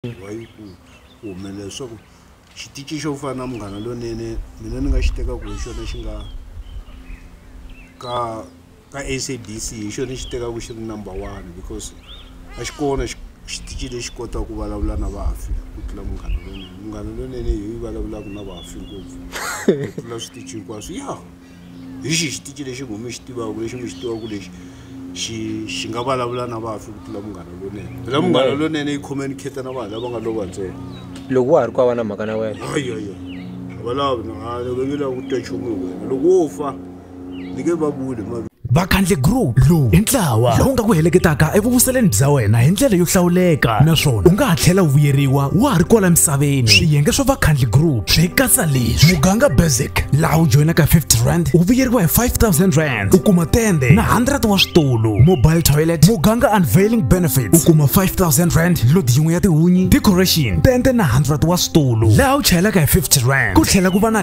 Why ku ku humelela leswaku xitici xo fana na munghana lonene mina ni nga xi tekaku hi xona xi nga ka ka SABC hi xona xi tekaku xi ri number one because a xi kona xitici lexi kota ku vulavula na vafi ku tlula munghana lonene munghana lonene hi yi vulavulaku na vafi ngopfu ku tlula switici hinkwaswo ya. hi xihi xitici lexi n'wi mi xi tivaka lexi mi xi tivaka ku lexi xi xi nga vulavula na vafi ku tlula munghana lonene phela munghana lonene yi communicate na vanhu lava nga lova ntsena loko wa ha ri ku va na mhaka na wena ayaya valavi va nge lavi ku twa nchumu hi wena loko wo fa ni nge va vuli ma vakhandle group lowu i ntlawa lowu nga ku heleketaka evuvuseleni bya wena hi ndlela yo hlawuleka naswona u nga ha tlhela u vuyeriwa wa ha ri kwala misaveni swiyenge swa vakhandle group swi katsa leswi muganga basic laha u joyinaka 50 rand u vuyeriwa hi 5000 rand u kuma tende na 100 wa switulu mobile toilet muganga unveiling benefits u kuma 5000 rand load yin'we ya tihunyi decoration tende na 100 wa switulu laha u chayelaka hi 50 rand ku tlhela ku va na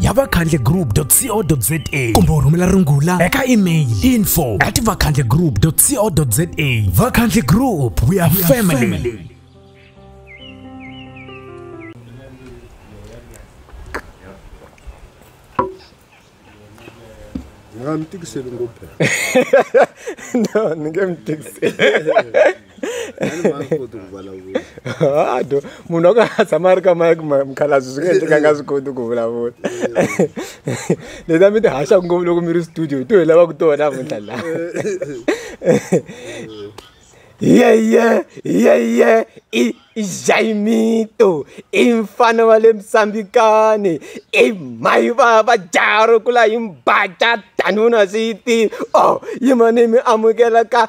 ya vakhandlegroup.co.za kumbe u rhumela rungula eka email info at vakhandlegroup.co.za vakhandle group we are family nga mi tikiseli ngopfu no ni nge mi tikiseli munhu akatshama ri ka mike mukhalabyi swi nga endleka nga swi koti ku vulavula leta mi ti haxaku ngopfu loko mi ri studio hi to hi lavaku tona vunhla la yeye yeye i jaimito i mfana wa le misambikani i mai va va jaro kula hi mbaca danuna swi yi tiva o oh, yimani mi amukela ka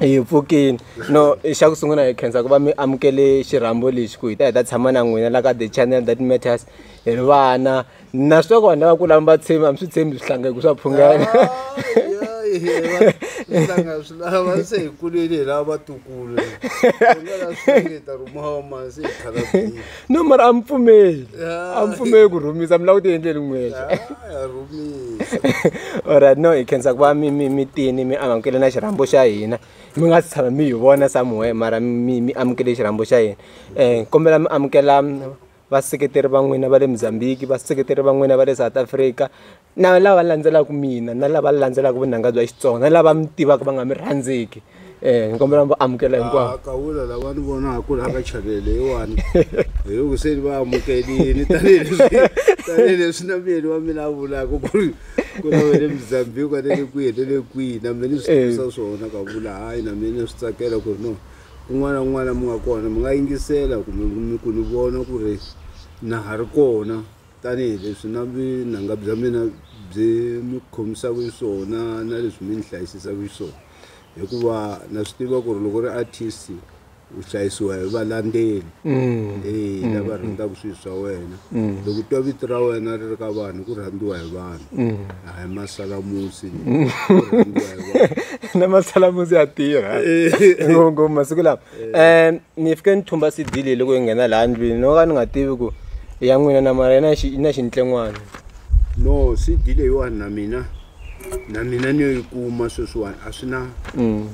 Hi pfukini no xa ku sungula hi khensa ku va mi amukele xirhambo lexi ku hi ta hi ta tshama na n'wina la ka the channel that matters hi ri vana na swi tiva ku vanhu lava ku lava va tshembi a mi swi tshembi swihlangeko swa phungana swihlanga swi lava se hi kulile hi lava vatukulu hi nga la swi ta rhumiwa masi hi khala no mara a mi pfumeli a mi pfumeli ku rhumisa mi lava ku ti endleli n'wexe alright no hi khensa ku va mi mi mi tini mi amukele na xirhambo xa hina mi nga si tshama mi hi vona samuhe mara mi mi amukele xirhambo xa hina um kombela mi amukela vaseketeri va n'wina va le mozambique vaseketeri va n'wina va le south africa na lava landzelaka mina na lava landzelaka vunanga bya Xitsonga na lava mi tivaka va nga mi rhandziki eh ni kombela mi va amukela hinkwavo ah, kawula lava ni vonaka ku laka chanele yewani hi ku se ni va amukelini tanihileswi tanihileswi na miyeni wa mina a vulaka ku ri ku na wele mozambique a nele kwihi ni le kwihi na mina ni swi tivisa eh. swona ka vula hayi na mina ni swi tsakela ku ri no kun'wana kun'wana mi nga kona mi nga yingisela kumbe mi ku ni vona ku ri na ha ri kona Tanihi leswi na vunanga bya mina byi mi khomisaka xiswona na leswi mi ni hlayisisaka xiswona hikuva na swi tiva ku ri loko ri artist u hlayisiwa hi valandzeli e lava rhandzaka swilo swa wena loko u twa vito ra wena ri ri ka vanhu ku rhandziwa hi vanhu a hi masalamusi ku rhandziwa hi vanhu na masalamusi ya tirha ngopfu masiku lawa ni fike ni thumba C_D leyi loko hi nghena laha ndlwini no ka ni nga tivi ku i ya n'wina na mara yi na yi na xintlen'wana no C_D leyiwani na mina na mina ni yo yi kuma sweswiwani a swi na mm.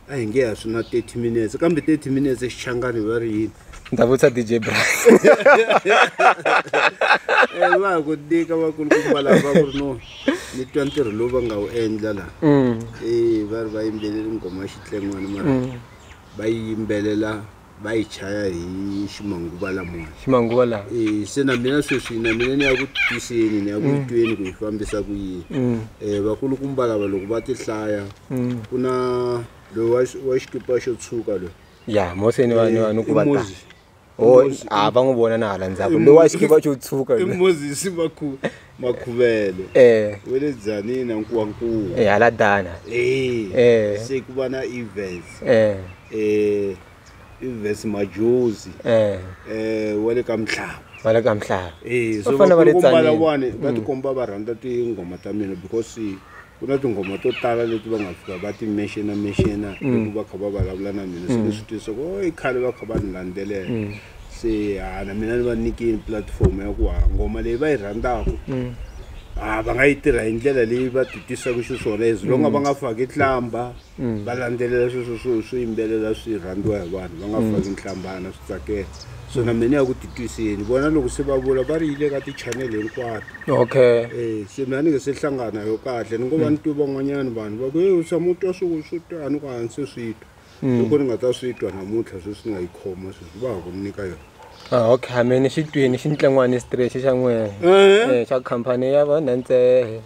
a hi nge a swi na 30 minutes kambe 30 minutes xichangani va ri yini ni ta vutisa dj bras eh, va ku tika vakulukumba lava va ku ri no ni twa ntirho lowu va nga wu endla laha mm. e va ri va yimbeleri nghoma xitlengwana mara mm. va yi yimbelela va yi chaya hi ximanguva lamona ximanguva lawa um se na mina sweswi na mina ni ya ku twiseni ni ya ku mm. tweni ku yi fambisa ku yini um vakulukumba lava loko va ti hlaya mm. ku na loyi wa xikipa xo tshuka loyi ya mose ni vanhu vanhu ku va a va n'wi vona na hala ndzhaku lowa xikiva xo tshuka i moses makhu makhuvele eh we le dzanina nkuwankulu eh hala dana eh eh se ku va na events eh eh events majozi eh eh wa le ka mhlaba va le ka mhlaba eh so va fanele va le tsanile va tikomba va rhandza tinghoma ta mina because ku na tinghoma to tala leti va nga fika va ti mexena mexena mm. loko va kha va vulavula na mina se mm. ni swi twisisa ku i khale va kha va ni landzelela mm. se ha na mina ni va nyikini platform ya ku ha ngoma leyi va yi rhandzaka ha va nga yi tirha hi ndlela leyi va ti twisaka xiswona as longa va nga faki tlamba va landzelela sweswo swo swo yimbelela swi rhandziwa hi vanhu va nga faki nhlambana swi tsakela so na mina ya ku titwiseni vona loko se va vula va ri yi le ka ti-channel hinkwato okay Eh, se mina ni nge se hlangana yo kahle ni ngo va ni twe van'wanyana vanhu va ku e u tshama u twa swo swo twa ni ku a ni se swi twa loko ni nga ta swi twa namuntlha sweswi ni nga yi khoma sweswi va ha ku ni nyika yona Ah, okay hameni xi twini xi ntlengwani straight xa n'wina Eh. Eh, xa khampani ya vanantsehe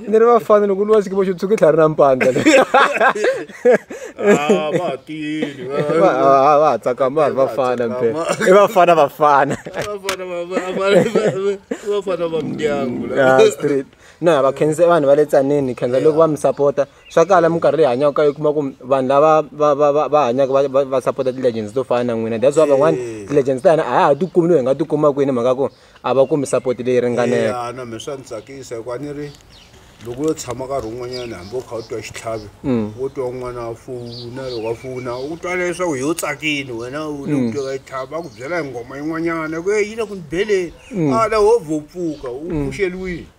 ni ri vafana loko ni va sikivo xo tshuki tlhari na mpandla va tsakama va ri vafana mpe i vafana vafana na vakhenze vanhu va le tsanini khenza loko va mi sapota Swa kala minkarhi leyi hi hanyaka ka yona u kuma ku vanhu lava va va va va hanyaka va va va sapota ti-legends to fana na n'wina that's why van'wana ti-legends ta hina a ha ha ti kumi loyi hi nga ti kuma kwini hi mhaka ku a va kumi support leyi ringaneke ya na me swa ni tsakisa hikuva a ni ri loko yo tshama nkarhi wun'wanyana hambi u kha u twa xitlhavi wo twa un'wana a fowuna loko a fowuna u twa leswaku hi u tsakini wena u le ku twa ka xitlhavi a ku byela hi nghoma yin'wanyana ku yi le ku ni beleni a la wo vho pfuka u pfuxeliwile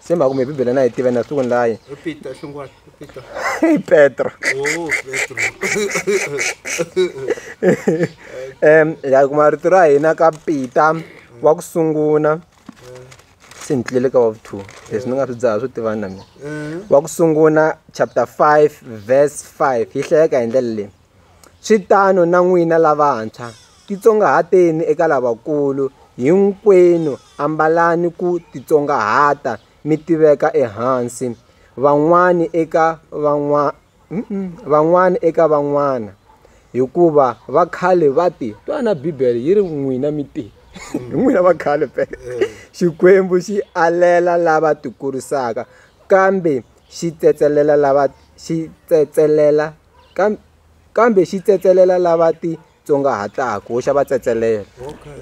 se mhaka kumbe bibele na yi tiva na siku ni layi i petro um hi ya kuma rito ra hina ka pita wa ku sungula se ni tlulele ka wa vu-two leswi ni nga swi dzaha swo tivani na mina wa ku sungula chapter five verse five yi hlayeka hi ndlela leyi Swi tano na n'wina lavantshwa, titsongahateni eka lavakulu, hinkwenu ambalani ku titsongahata mi tiveka ehansi van'wana eka van'wana van'wana eka van'wana hikuva va khale va ti twana bibele yi ri n'wina mi ti hi n'wina va khale pe xikwembu xi alela lava tikurisaka kambe xi tsetselela lava xi tsetselela kambe xi tsetselela lava ti tsongahataku wo xa va tsetselela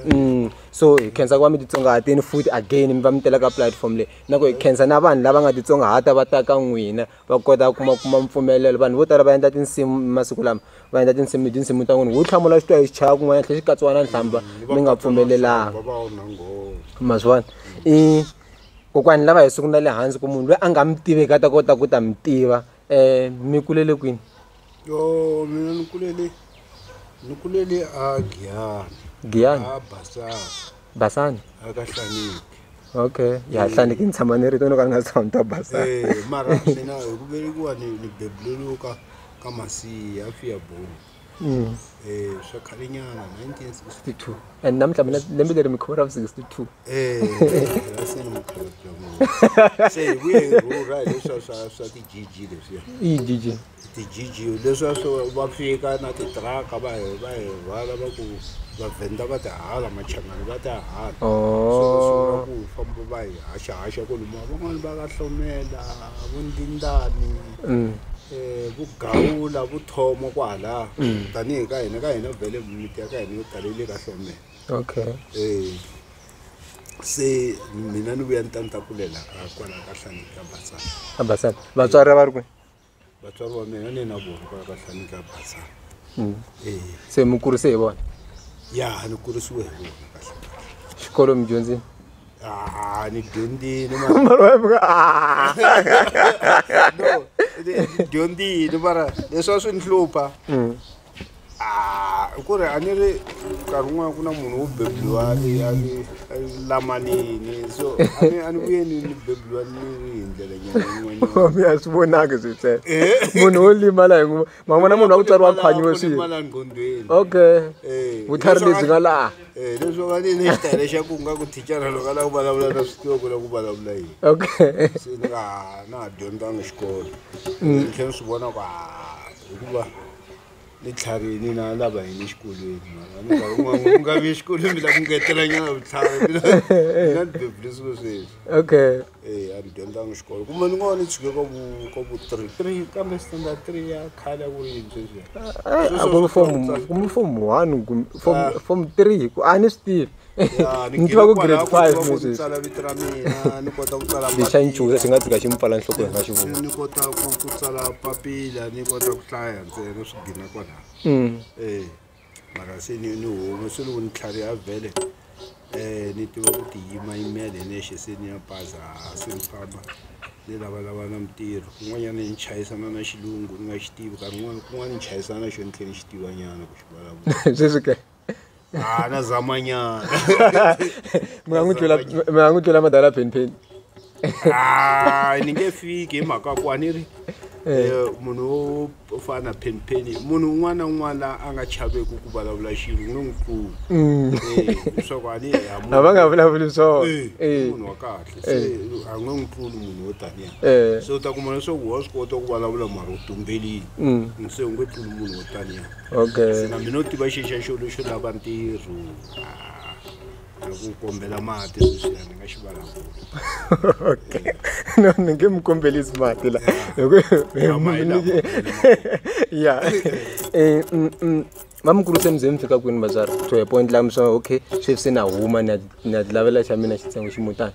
mm, so hi khensa ku va mi titsongahatini futhi again mi va mi tela ka platform leyi na ku hi khensa na vanhu lava nga titsongahata va ta ka n'wina va kota kuma kuma mpfumelelo vanhu vo tala va endla tinsimu masiku lama va endla tinsimu tinsimu ta n'wina wu hlamula xitwa hi xichaya kun'wana tlhe xi katsiwa na nhlamba mi nga pfumelelanga ma swi vona i kokwani lava hi siku na le hansi ku munhu loyi a nga mi tiveki a ta kota ku ta mi tiva um mi kulele kwini yo mina ni kulele ni kulele a giyani giyani a basana basani a ka hlaniki okay ya hlaniki ni tshama ni ri tono ka ni nga tshama ni ta basana eh mara mina hi ku velekiwa ni ni bebuleliwe ka ka masiya a fiya boni Mm. Eh, swa khale nyana 1962 and namuntlha mina lembe leri mi khoma ra vu 62 Eh, ra se ni mukhalabya munhu. se hi vuye hi rhurha hi leswa swa swa ti-gg leswiya iyi jiji ti-gg leswa swo va fika na titiraka va hi va hi rhwala va ku vavhenda va tihala machangani va tihala so va sungula Oh. ku famba va hi haxahaxa ku luma van'wani va ka hlomela vo ndindani um vugawula vuthomo kwalaha mm. tanihi ka hina ka hina vhele miti ya ka hina yo tala yi le ka hlomela okay um se mina ni vuya ni ta ni ta kulela ka kwala ka hlani ka batsana ka batsana vatswari a va ri kwe vatswari va mina ni na vona kwala ka hlani ka batsana mm. e se mi kurise hi vona ya ni kurisiwe hi vona kahle xikolo mi dyondzini Ah, ni dyondzile mara- Mara wa muka- ah. no, ni- ni dyondzile mara leswi a swi ni hlupha Mm. Ah, i ku ri a ni ri nkarhi wun'wana ku na munhu wo bebuliwa a ri- a ri- a ri lamanini so a ni- a ni vuye ni ni bebuliwa ni ri hi ndlela nyana yin'wanyana Mami, a swi vonaki switsele munhu wo limala hi nguva ma vona munhu wa ku tsariwa khwanyiwe swi okay eh, vutlhari lebyi nga laha eh, leswi va ni lexi tale xa ku nga ku thicara loko a lava ku vulavula na swi tiva ku lava ku vulavula yini okay se ni nga na ha dyondzanga xikolo mm. ni tlhela ni swi vona ku hikuva ni tlharini na lava yini exikolweni u nga vi exikolweni mi la ku ngetelanyana vutlhari na ni bebulisiwe sweswi okay eyi a ni dyondzanga xikolo kumbe ni ngo va ni tshike ka vu ka vu three three kambe standard three ya khale a ku ri yini sweswi eh, a ku ri form ku ri form one kumbe form ah. form three ku a ni swi tivi ni tiva ku grade five sweswi tsala vito ra mina ni kota ku tsala lexa ni chuza xi nga tsika xi mi pfala nhloko hi nga xi vona ni kota ku ku tsala papila ni kota ku hlaya ntsena swi gina kwalaho mm. eh mara se ni ni home se loko ni tlhave a vhele um ni tiva ku tiyimayimela hi nexe se ni ya baza se ni famba ni lavalava na mintirho kun'wanyana ni chayisana na xilungu ni nga xi tivi nkarhi un'wana kun'wana ni chayisana na xo ni tlhela ni xi tivanyana ku xi vulavula sweswi ke a na zamanyana mi nga n'wi tlula mi nga n'wi tlula madala phenpheni hayi ni nge fiki hi mhaka ku a ni ri eh, eh munhu wo o fana na phenpheni munhu un'wana na un'wana la a nga chaveki ku vulavula xilo ni n'wi pfuni mm. eh, leswaku a ni a va nga vulavuli swona eh, munhu wa kahle se a nga n'wi pfuni munhu wo taniya se u ta kuma leswaku wa swi kota ku vulavula mara u tumbelini mm. se u nge pfuni munhu wo taniya se na mina u tiva xixa xo lexo lava ntirho ah. loko u kombela mati leswiya ni nga xi vulavula okay no ni nge mi kombelisi mati la ya eh, mm, mm. va mi kuruse muzemi fika kwini vatswari to hi point lami swa okay sweswi se na huma na ti lavela xa mina xitsengo ximutani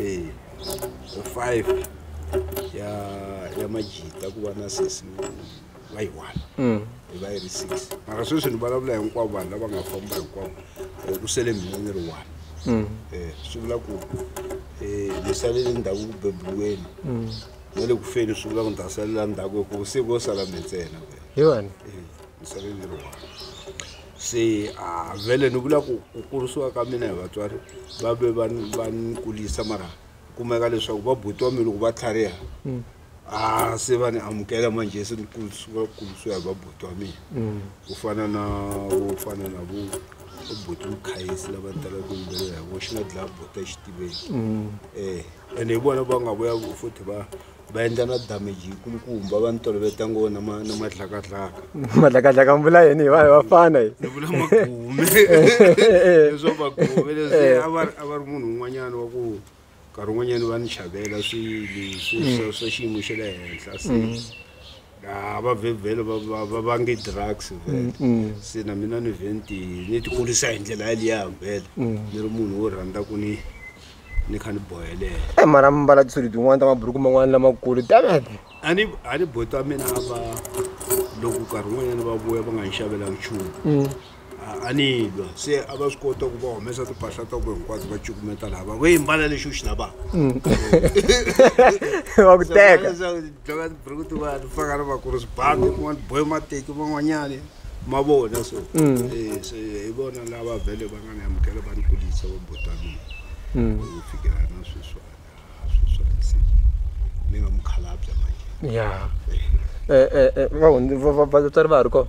eh five ya ya majita ku va na sesi va yi one mm. hi va yi ri six mara sweswi ni vulavula hinkwavo vanhu lava nga famba hinkwavo eh, ku sele mina ni ri one mm. eh, swi vula ku eh, ni salele ndhaku ku bebiweni mm. na le ku feni swi vula ku ni ta salela ndhaku hikuva siku yo sala mi ntsena hi wena misaveni yi ri one se a vele ni vula ku ku kurisiwa ka mina hi vatswari va ve va ni va ni kulisa mara kumeka leswaku va buti wa mina loko va tlhariha mm. a se va ni amukela manje se ni kurisiwa kurisiwa hi va buti wa mina mm. ku fana na vo fana na vo buti mukhayisi lava ni talaka ku yimbelela hi vo xi nga dlaya buti exitiveni um mm. eh, ene hi vona va nga vuya futhi va va endla na damage yikulukumba va ni toloveta ngo na ma na madlakadlaka madlakadlaka mi vula yini hi va hi vafana hi ni vula magume leswo magume leswi a va ri a va ri munhu un'wanyana wa ku nkarhi un'wanyana va ni chavela swilo swa swa xiyimo xa le henhla se Ah, va vhe vhele va- va- va vange drugs vhele se na mina ni vhe ni ti- ni tikurisa hi ndlela yaliya vhele ni ri munhu wo rhandza ku ni ni kha ni bohelela e mara mi mbala tisudi tin'wana ta maburuku man'wana lamakulu damete a ni a ni boti wa mina a va loko nkarhi wun'wanyana va vuya va nga ni xavela nchumu a ni lwa se a va swi kota ku va humesa timpahla ta ku hinkwato va cukumeta lava va yimbala lexi u xi lavaka mm. va ku teka dlova tiburuku tiwani faka na vakuru swibandi kun'wana boye mateki van'wanyani ma vona so mm. eh, se hi vona lava vhele va nga ni amukela va ni kulisa va botanini mm. ku fikela na sweswana sweswana se ni nga mukhalabya manje ya eh. eh, vatswari va ha ri kona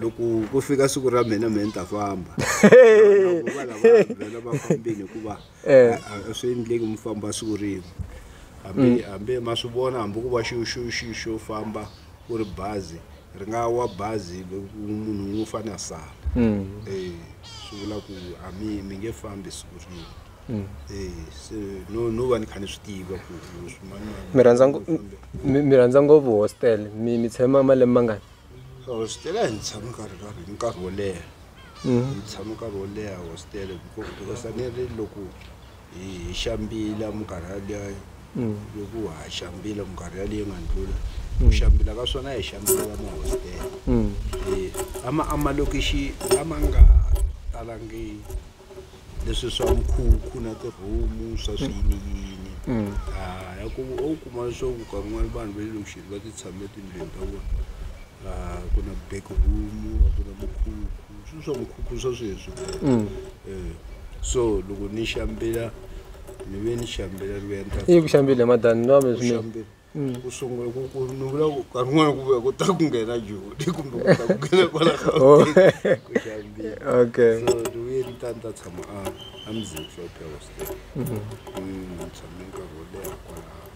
loko ku fika siku ra mina mina ni ta famba Loko va lava vhela va fambile hikuva Eh. a- a- a swi endleki mi famba siku rin'we hambi hambi ma swi vona hambi ku va xo xo xo xo famba ku ri bazi ri nga wa bazi loko munhu un'we u fane a sala Eh, swi vula ku a mi mi nge fambi siku rin'we Eh, se no no va ni kha ni swi tiva ku swi- mani- mani- mi rhandza ngo- mi- mi rhandza ngopfu hostel mi mi tshama malembe mangani hositele a hi tshami nkarhi karhi hi nkarhi wo leha mm. hi tshami nkarhi wo leha hositele because a ni ri loko hi xambila minkarhi yaleyo mm. loko ha xambila minkarhi yaleyi nga ndlula ku mm. xambila ka swona hi xambila ka mahositele ama amalokixi a ma nga talangi leswi swa nkhukhu na tihomu swa swiyiniyini mm. ah, ya ku u kuma leswaku kan'wani vanhu va le loxini va ti tshame etindlwini ta vona ah, ku na back room ku na mukhukhu swilo swa mukhukhu swa sweswi mm. eh, so loko ni xambela ni ve ni xambela ni ve ni ta ku xambile madani ni va mi swinene ku sungula ku ku ni vula ku nkarhi wun'wana ku vuya ku ta ku nghena jodi kumbe ku ta ku nghena kwala Oh. gauteng ku xambile okay so ni vuye ni ta ni ta tshama a a mzini hlophe hostel Mm, ni tshame nkarhi wo leha kwalaho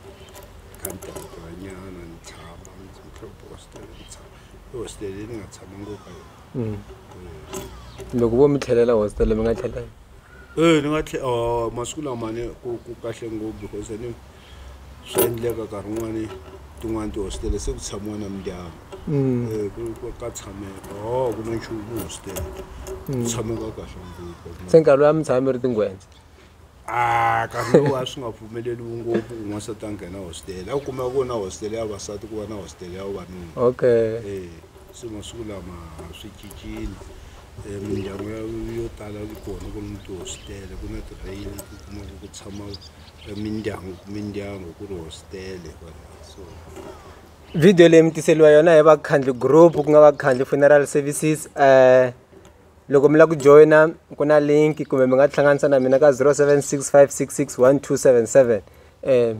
kha ni tirhatirhanyana ni tshama mzini hlophe hostel ni tshama i hostel leyi ni nga tshama ngopfu ka yona Mm. Eh, loko vo mi tlhelela hostel mi nga tlhelela eh ni nga tlhe oh, masiku lamane ku ku kahle ngopfu because ni swa endleka nkarhi wun'wani tin'wani tihositele se ku tshamiwa na mindyangu mm. eh, ka tshameka o oh, ku na nchumu hositele ku mm. tshameka kahle ngopfu se nkarhi loyi a mi tshami ri tingwendza a nkarhi lowu a swi nga pfumeleliwi ngopfu ku n'wansati a nghena hositele a ku kumeka ku na hositele ya vasati ku va na hositele ya vavanuna okay eh, se masiku lama swi cincile Eh, mindyangu yo tala yi kona ku ni tihositele ku na tirheyini ku kuma ku tshama ka mindyangu mindyangu ku ri hositele kwalaho so video leyi mi tiseliwa yona hi vakhandli group ku nga vakhandli funeral services um loko mi lava ku joyina ku na link kumbe mi nga tihlanganisa na mina ka 0765661277 um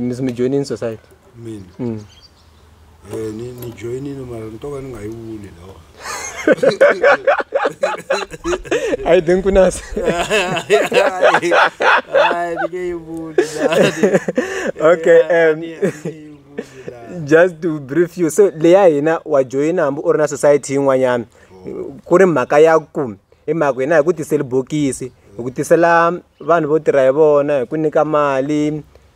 mi mi joyinini society mina mm. Eh, ni ni joinile mara ni to ka ni nga yi vuli lawa a yi denkunasi Hayi, ni nge yi vuli lawa. okay Eh, um, ni- ni nge yi vuli lawa. just to brief you so leya hina wa joyina hambi u ri na society yin'wanyana ku ri mhaka ya ku hi mhaka hina hi ku tiseli bokisi hi ku tisela vanhu vo tirha hi vona hi ku nyika mali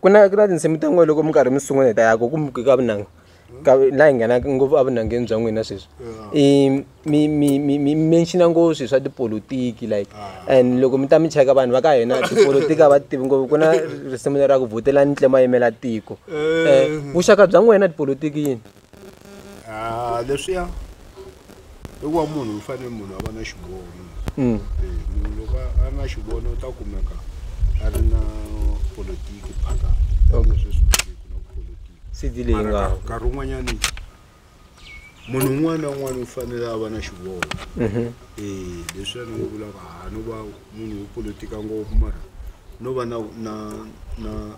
ku na ku na tinsimu ta n'wina loko mi karhi mi sungula hi ta ya ku ku muke ka vunanga ka laha hi nghenaka ngopfu evunangeni bya n'wina sweswi i mi mi mi mi mention-a ngopfu swilo swa tipolotiki like and loko mi ta mi cheka vanhu va ka hina tipolotiki a va ti tivi ngopfu ku na risimu lera ku vhotela ni tlhela ma yimela tiko vuxaka bya n'wina tipolotiki yini. Ah, leswiya i wa munhu u fanele munhu a va na xiboho mm. eh, munhu loko a na xivono u ta kumeka a ri na politiki phaka nkarhi un'wanyani munhu un'wana na un'wana u fanele a va na xivoho mhm. eh, leswi a ni n'wi vulaka ha no va munhu wo politika ngopfu mara no va na na na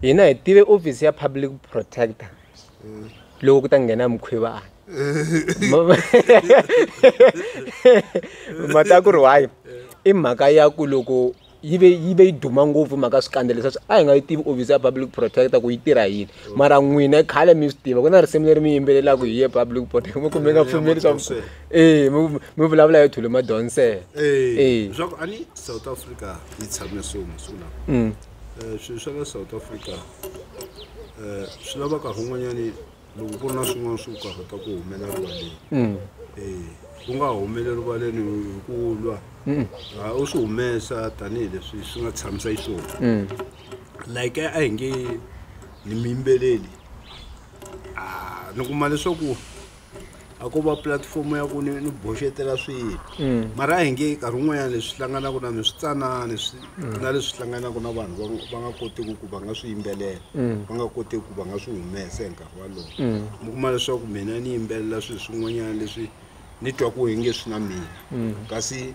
hina hi tive office ya public protector loko ku ta nghena mukhwivana mata ku ri wayi i mhaka ya ku loko yi ve yi ve yi duma ngopfu mhaka swikandza leswi a hi nga yi tivi office ya public protector ku yi tirha yini mara n'wina khale mi swi tiva ku na risimu leri mi yimbelelaka hi ye public protector mi kumbe nga pfumeli swa e mi vulavula yo thule madonsela e leswaku a ni south africa yi tshame so masiku lawa mm. um swilo swa la south africa um swi lava karhi un'wanyani loko ku ri na swin'wana swo karhata ku humela rivaleni um ku nga humele rivaleni hi ku lwa a u swi humesa tanihileswi swi nga tshamisa yi swona like a hi nge ni miyimbeleli a ni kuma leswaku a ko va pulatifomo ya ku ni ni boxetela swilo mara a hi nge nkarhi wun'wanyana leswi hlanganaka na mi switsanani swi na leswi hlanganaka na vanhu va nga- va nga kotiki ku va nga swi yimbelela va nga kotiki ku va nga swi humesa hi nkarhi walowo mi kuma leswaku mina ni yimbelela swilo swin'wanyana leswi ni twa ku inge swi na mina kasi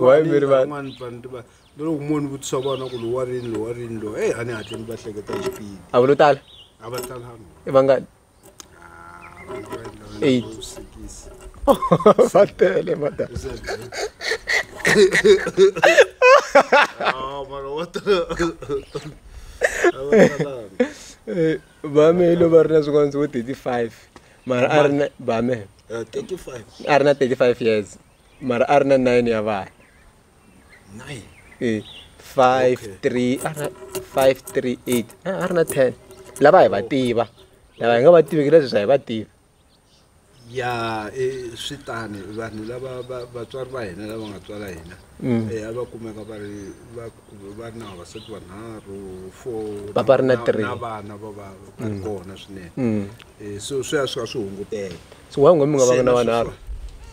wayimeri van'wana vanhu ti va lero un'wana ni vutisa vana ku lowa rini lowa rini lowa eyi a ni hatle ni va hleketa hi xipidi a va lo tala a va talanga i vangani Eight. vusikisi va tele mata mara wa talanga a va talanga Eh, bame yi lo va ri na swikondzo vo thirty five mara a ri na bame eh, a ri na thirty five years mara a ri na nine ya vana e five three a ri five three eight a ri na ten lava hi va tiva lava hi nga va tiveki leswi swa hi va tiva ya i swi tani vanhu lava va vatswari va hina lava nga tswala hina Mm. eh, a va kumeka va ri va va ri na vavasati vanharhu four Va va ri na three. na vana va va va ri kona swinene Mm. Eh, so swi ya swi kha swi hunguteka so why ngombe nga vanga na Sena swi- vanharhu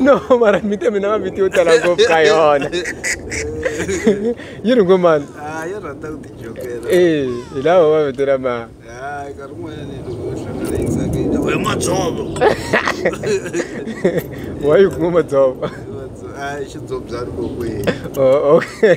no mara mite mina va vitiyo tala ngopfu ka yona yi ri ngo mani e hi lava va vitela ma wa yi kuma madzova xidzobyani kokweni okay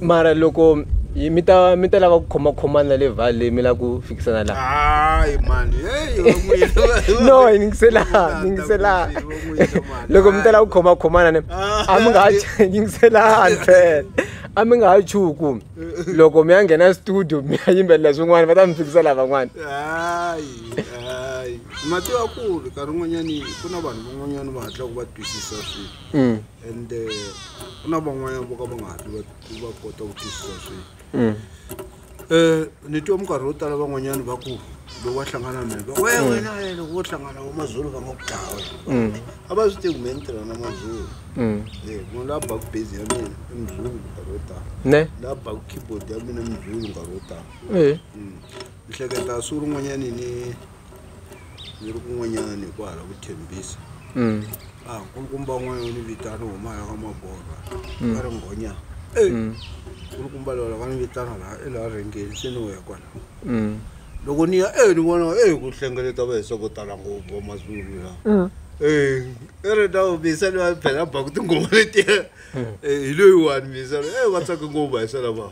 Mara loko yi mi ta mi ta lava ku khomakhomana le vale mi lava ku fikisana la hayi mani no yingisela yingisela loko mi ta lava ku khomakhomana ne a mi nga ha yingisela ntsena a mi nga ha chuhi ku loko mi ya nghena studio mi ya yimbelela swin'wana va ta mi fikisa lavan'wana hayi hayi matiwakulu nkarhi wun'wanyani ku na vanhu van'wanyani va hatlaka va twisisa swilo and eh, ku na van'wanyana vo ka va nga hatli va- va kota ku twisisa swilo um ni twa minkarhi yo tala van'wanyana va ku loko va hlangana na va we wena eh, loko vo hlangana va mazulu va nga ku dlaya wena a va swi tivi me ni tirha na mazulu um Eh, munhu la baku base ya mina i muzungu minkarhi yo tala ne la baku keyboard ya mina i muzungu minkarhi yo tala um ni hleketa siku rin'wanyani ni ni ri kun'wanyana ni ku hala ku thembisa mm. a ah, nkulukumba n'wana yo ni vitana huma ya ka magorwa mm. va ri nghonya e mm. nkulukumba lola va ni vitana laha i laha rhengeni se ni u ya kwala loko ni ya e ni vona e ku hlengeleta va hisa ko tala ngopfu va mazulu la e i ri na misa ni va phela baku tinghoma letiya hi loyiwani misa e va tsake ngopfu va hisa lava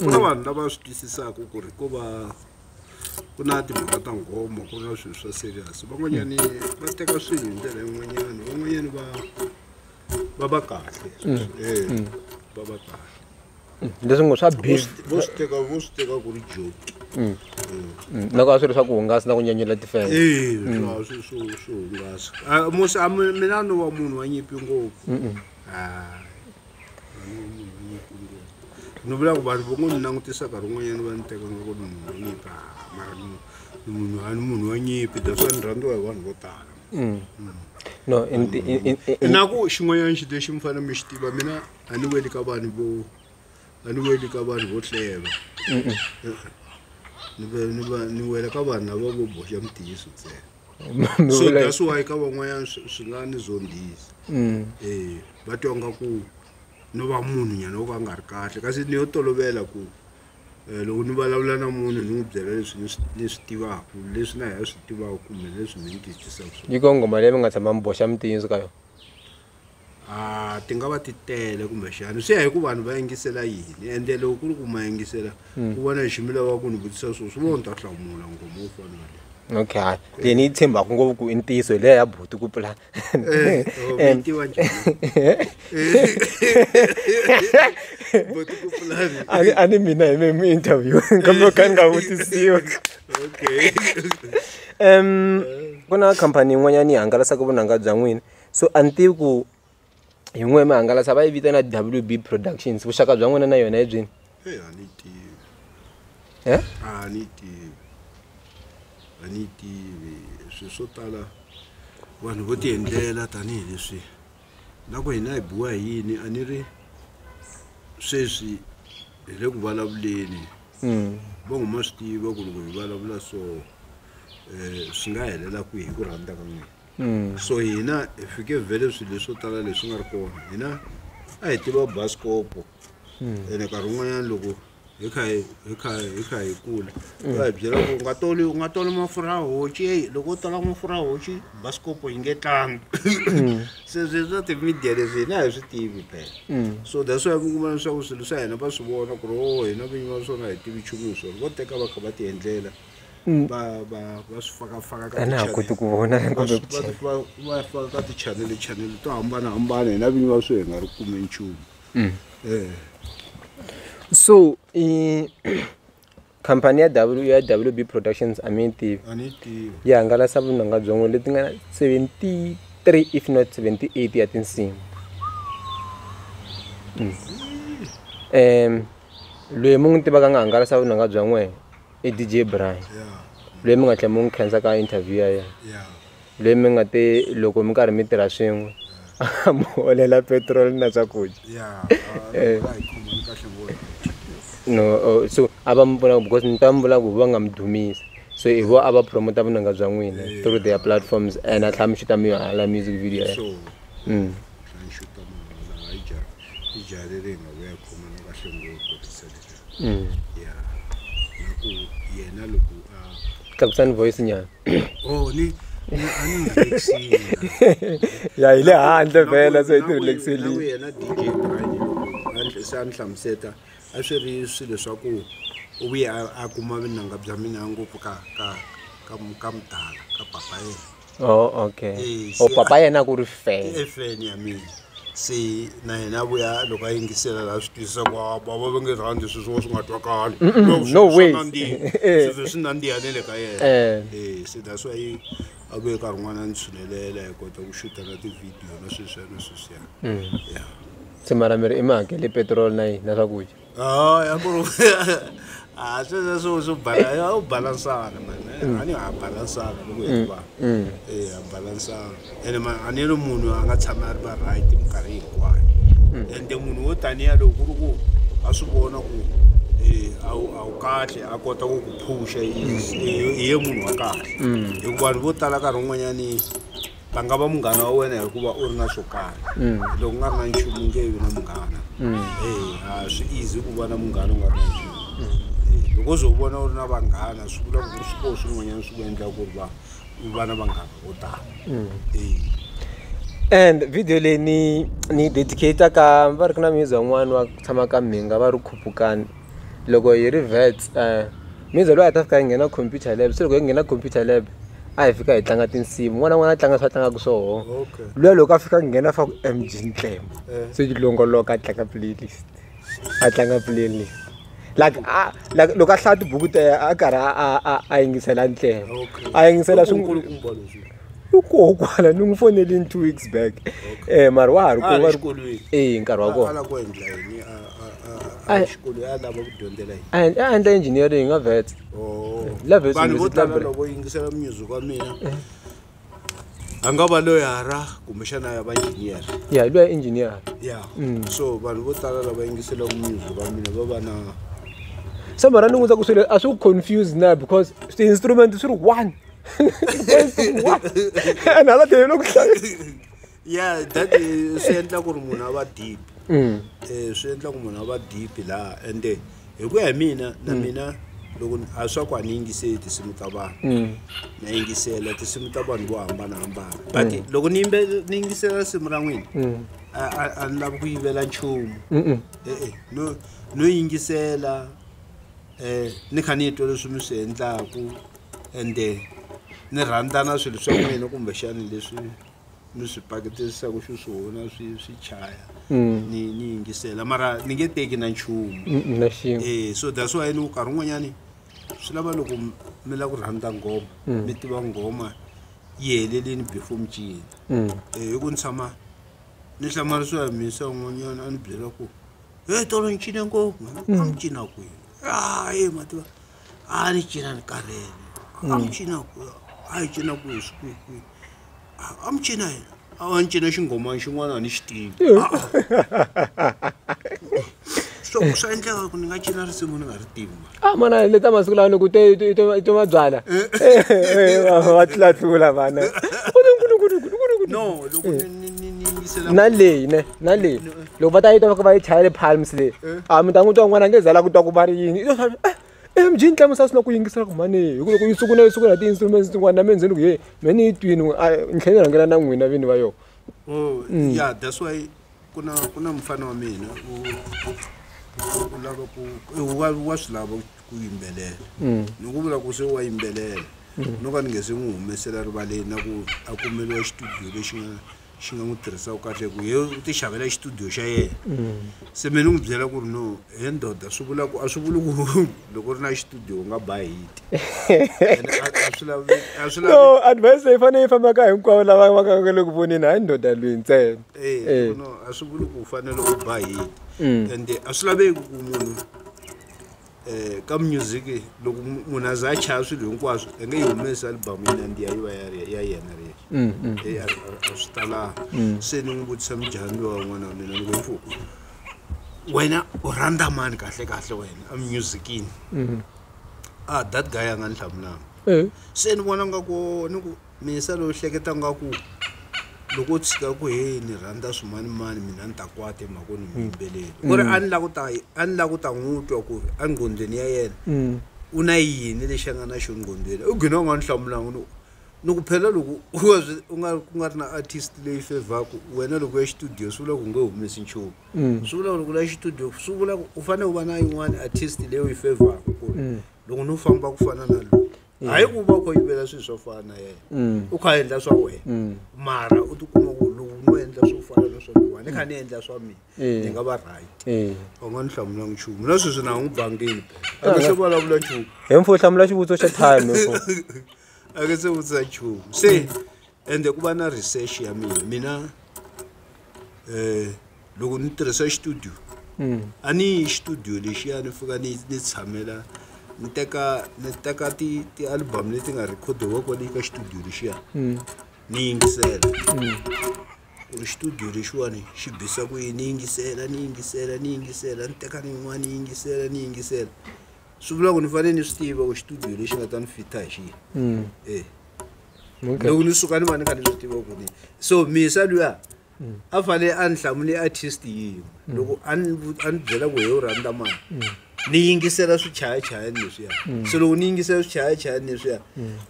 na vanhu lava swi twisisaka ku ri ko va ku na timhaka ta nghomo ku na swilo swa serious van'wanyani va teka swilo hi ndlela yin'wanyani van'wanyani va va va kahle mm. eh, mm. va va kahle mm. leswi ngo swa bivo swi teka vo swi teka ku ri joke eh. loko a swi ri swa ku hungasa na ku nyanyela tifela eh, swo hungasa ah, musi ah, mina ni wa munhu wa nyimpi ngopfu ah. ni vulaka vanhu vo ngo ni langutisa nkarhi wun'wanyana va ni teka nga ku ni munhu wa nyimpi a mara ni ni munhu a ni munhu wa nyimpi that's why ni rhandziwa hi vanhu vo tala no in, in, in, in, in, inako xin'wanyana xi lexi mi fanele mi xi tiva mina a ni weli ka vanhu vo a ni weli ka vanhu vo hleva ni ve- ni va- ni wela ka vanhu lava vo boxa mutiyiso ntsena so that's why ka van'wanyana swi nga ni zondhisi um mm. va twa nga ku no va munhu nyana wo ka a nga ri kahle kasi ni yo tolovela ku um loko ni vulavula na munhu ni n'wi byela leswi ni swi tivaka leswi na hi swi tivaka kumbe leswi mi ni twisisaka swona yi ko nghoma leyi mi nga tshama mi boxa mitinyisi ka yona a ti nga va ti tele kumbexani swi ya hi ku vanhu va yingisela yini ende loko ku ri ku ma yingisela hmm. ku vona xi mi lava ku ni vutisa swo swi vona ni ta hlamula ngoma wo fana waleyo okay hayi leyi ni yi tshembaka ngopfu ku i ntiyiso hi leya ya buti ku pula eh, oh, eh. a ni mina hi me mi interview kambe ka ni nga vutisiwa um ku na khampani yin'wanyana yi hangalasaka vunanga bya n'wini So a ni tivi ku hi n'we mi hangalasa va yi vitana WB Productions vuxaka bya n'wina na yona hi byini Hey, a ni tivi. he A ni tivi. A ni tivi. Swi swo tala vanhu vo tiendlela tanihileswi na ku hina hi biwa hi yini a ni ri sweswi hi le ku vulavuleni va huma swi tiva ku loko hi vulavula so um swi nga helela kwihi hi ku rhandza ka n'wina So hina hi fike vhele swilo leswo tala leswi nga ri kona hina a hi tiva basikopo ene nkarhi wun'wanyana loko hi kha hi hi kha hi kha hi kula va hi byela ku u nga toli u nga toli mafurha ya hoci eyi loko u tola mafurha ya hoci basikopo yi nge tlangi se swi swa ti-media leswi hina a hi swi tivi phela so that's why mi kuma leswaku swilo swa hina va swi vona ku ri o hina vinyi va swona a hi tivi nchumu hi swona vo teka va kha va ti endlela mm. va va va swi fakafaka ka na ha koti ku vona kumbe ku cheka va va faka ka ti channel channel to hambana hambana hina vinyi va swi hi nga ri kume nchumu mm. eh so eh khampani ya w ya wb productions a mi yi tivi yi hangalasa vunanga byongo leti nga 73 if not 78 ya tinsimu um loyi mu n'wi tivaka nga hangalasa vunanga bya n'wena i DJ Brian loyi mi nga tlhela mi n'wi khensa ka interview ya yena loyi mi nga te loko mi karhi mi tirha swin'we a mi holela petrol na swakudya eh. no oh, so a va mi pfuna because ni twa mi vula ku va nga mi dumisa so hi vo a va promota vunanga bya n'wina eh. through their platforms and a tlhela mi xuta mi hala music video ya mm. ya na ku yena loko a tlakusani voice nyana oh ni ni a ni relaxile ya hi le handle vhela se hi ti relaxile yena DJ Brian handle se a ni hlamuseta a swi ri swilo swa ku u vuye a kuma vinanga bya mina ngopfu ka ka ka ka mudala ka papa yena oh okay Eh, o se- papa yena ku ri fan i fan ya mina se na yena vuya loko a yingisela laha swi twisisa ku "Ah, bava va nge rhandzi sweswi wo swi nga twakali No, swi- no swa ways. nandziha. Eh. Swi vhe swi nandziha ne le ka yena Eh. Eh, se that's why a vuye nkarhi n'wana a ni tshunelela hi kota ku xuta na tivhidiyo na sweswiya na sweswiya ya se mara mi ri i mi hakele petrol na yini na swakudya Oh, ya ku ah sweswo swo swo bala ya u balansana man eh, mm. ani ha balansana loko hi mm, va mm. eh ha balansana ene man ani lo munhu a nga tshama a ri va right minkarhi hinkwayo ende munhu wo taniya loko ku ri ku a swi vona ku eh, a wu kahle a kota ku ku phusha hi ye munhu wa kahle hikuva vanhu vo tala nkarhi wun'wanyani a nga va munghana wa wena hikuva u ri na swo karhi mm. loko u nga ri na nchumu nge vi na munghana mm. a swi easy ku va na munghana u nga ri na nchumu mm. loko zo vona u ri na vanghana swi vula ku ri swikoho swin'wanyana swi ku endla ku ri va u va na vanghana vo tala and video leyi ni ni yi dedicata ka va ri ku na music wan'wana wa ku tshama ka mhinga va ri khupukani loko hi ri vets Miza loyi a hi ta fika hi nghena computer lab se loko hi nghena computer lab a hi fika hi tlanga tinsimu n'wana n'wana a tlanga swa tlangaka swoho luya loko a fika a nghena fa ku M_G Nxempo se yi longoloka a tlanga playlist a tlanga playlist like a like loko a hlaya tibuku ta yena a karhi a a a yingisela Nxempo a yingisela i koho kwala ni n'wi fonelini two weeks back mara wa ha ri kona eya nkarhi wa kona. a hi xikolo ya lava ku dyondzela yini a hi a endla engineering nga vet Oh. La Vets vanhu vo University tala Library. loko yingisela music wa mina a nga va loyara kumbexana ya va engineer ya luya engineer ya Mm. so vanhu vo tala lava yingiselaka music wa mina va va na se mara ni n'wi ta ku swilo a swi ku confuse na because ti-instrument swi ri one Ti-voice ti ri one. and hala tlhelo ku hlaya ya that swi endla ku ri munhu a va deep mm. eh, swi endla ku munhu a va deep laha ende hi ku ya hi mina na mm. mina loko a swa ku a ni yingiseli tinsimu ta vanhu mm. na yingisela tinsimu ta vanhu vo hambanahambana but loko ni ni yingisela risimu ra n'wina a ni lavi ku yivela nchumu e-e no no yingisela um ni kha ni twa leswi mi swi endlaku ende ni rhandzana swilo swa n'wina kumbexani leswi ni swi paketisaku xiswona swi swi chaya mm. ni ni yingisela mara ni nge teki na nchumu e so that's why ni nkarhi un'wanyani swi lava loko mi lava ku rhandza nghoma mm. mi tiva nghoma yi helelini before mi cina mm. e hi ku ni tshama ni hlamarisiwa hi mhisa un'wanyana a ni byela ku e tolo ni cine ngopfu a ni cina kwini ae mativa a ni cina ni karhele a ni cina kwihi a yi cina kwihi swi kwihi kwihi amcina a ni cina xinghomani xin'wana a ni xi tivi so swa endleka ku ni nga cina risimu ni nga ri tivi ma a ah, mana le ta masiku lawa ni ku to mabyala eh. eh, eh, va tlulatlula vana no loko na leyi ne na leyi loko va ta yi tova va yi chayele palms leyi a ah, mi ta n'wi twa n'wana nge zala ku twa ku va ri yini M_G yi ni tlemisa swi lava ku yingisela ku mhani hi ku loko yi sungula yi sungula hi ti-instruments tin'wana na mina se ni ku he me ni yi twini ni tlhe ni rhangela na n'wina vini va yona oh ya that's why ku na ku na mufana wa mina u u lava ku wa wa swi lava ku yimbelela ni ku vula ku se wa yimbelela no ka ni nge se n'wi humesela rivaleni na ku a kumeliwa xitudiyo lexi nga xi nga n'wi tirhisaka kahle hi ku ye u ti xavela xitudiyo xa yena se me ni n'wi byela ku ri no he ndoda swi vula ku a swi vuli ku loko u ri na xitudiyo u nga ba hiti no advice leyi fanele yi fambaka hinkwavo lava va ka nga le ku voneni hayi ndoda lweyi ntsena eh, eh. a swi vuli ku u fanele u ba hiti mm. ende a swi laveki ku munhu um ka music loko munhu a za a chaya swilo hinkwaswo a nge yi humesi alibamu yi nandziha yi va ya yena ri yexe a swi talanga se ni n'wi vutisa mujahani lowa n'wana wa mina ni ku mfu wena u rhandza mani kahle kahle wena emusicini a ah, that guy a nga ni hlamulanga se ni vona nga ku ni ku Minsa loyi u hleketa nga ku loko u tshika ku heyi ni rhandza swimanimani mina ni ta kwata emhakweni mi yimbeleli ku ri a ni la ku ta a ni la ku ta n'wi twa ku ri enqhondweni ya yena u na yini lexi a nga na xo nqhondweni u gina u nga ni hlamulanga ni ni ku phela loko u nga swi u nga ku nga ri na artist leyi fevhaku wena loko ya xitudiyo swi vula ku nge humesi nchumu swi vula ku loko la xitudiyo swi vula ku u fanele u va na yin'wani artist leyi u yi fevhaku ku ri loko no famba ku fana na lowu hayi ku va u kho yivela swilo swo fana na yena mm. u kha a endla swa wena mm. mara u tikuma ku lowu no endla swo fana na swa lowa ni kha ni endla swa mina eh. ni nga va right eh. u nga ni hlamula nchumu na sweswi na ha n'wi bangile a nga se vulavula nchumu hi mfo hlamula xivutiso xa time a nga se vutisa nchumu se ende ku va na research ya mina mina eh loko ni tirhisa studio mm. a ni yi studio lexiya ni fika ni ni tshamela ni teka ni teka ti ti album leti nga recordiwa kwale ka studio lexiya mm. ni yingisela mm. ku ri studio lexiwani xi bisa ku yini ni yingisela ni yingisela ni yingisela ni teka ni yin'wana ni yingisela ni yingisela swi vula ku ni fanele ni swi tiva ku studio lexi nga ta ni fita hi xiyi e loko ni suka ni va ni kha ni swi tiva ku ni so misa luya mm. a fanele a ni hlamule artist yin'we mm. loko a ni byela ku hi u rhandza mani mm. ni yingisela swichayachayani leswiya so loko ni yingisela swichayachayani leswiya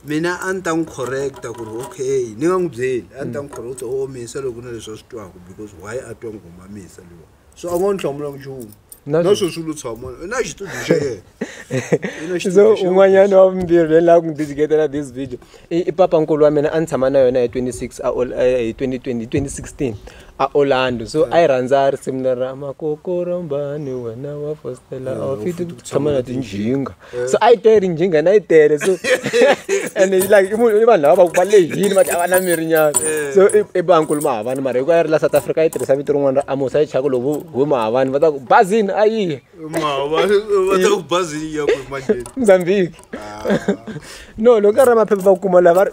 mina a ni ta n'wi correcta ku ri okay ni nga n'wi byeli a ni ta n'wi correcta o oh, misa loko na leswi a swi twaka because why a twa nghoma misa luwa so a ngo ni hlamula nchumu na na sweswi lu tshama i na xitudio xa yena I na xitudio so xa yena. un'wanyana wa vumbirhi leyi lava ku ndzi jiketela this video i i papa nkulu wa mina a ni tshama na yona hi 26 a Ol- eh, hi 2020 hi 2016 a orlando so a yi rhandza risimu leri ra makokorombani wena wa fostela ofiti ku tshama na tinjinga so a yi tele njhinga na yi tele so and like i munhu i vanhu lava va lehini va a va na miri nyana so i bankulu mahavani mara hikuva ya ri la south africa yi tirhisa vito rin'wana ra amosa yi chaka lovu hu mahavani va ta ku bazini a yiye mozambique ah. no loko ka ri ra maphepha va kuma laha va ri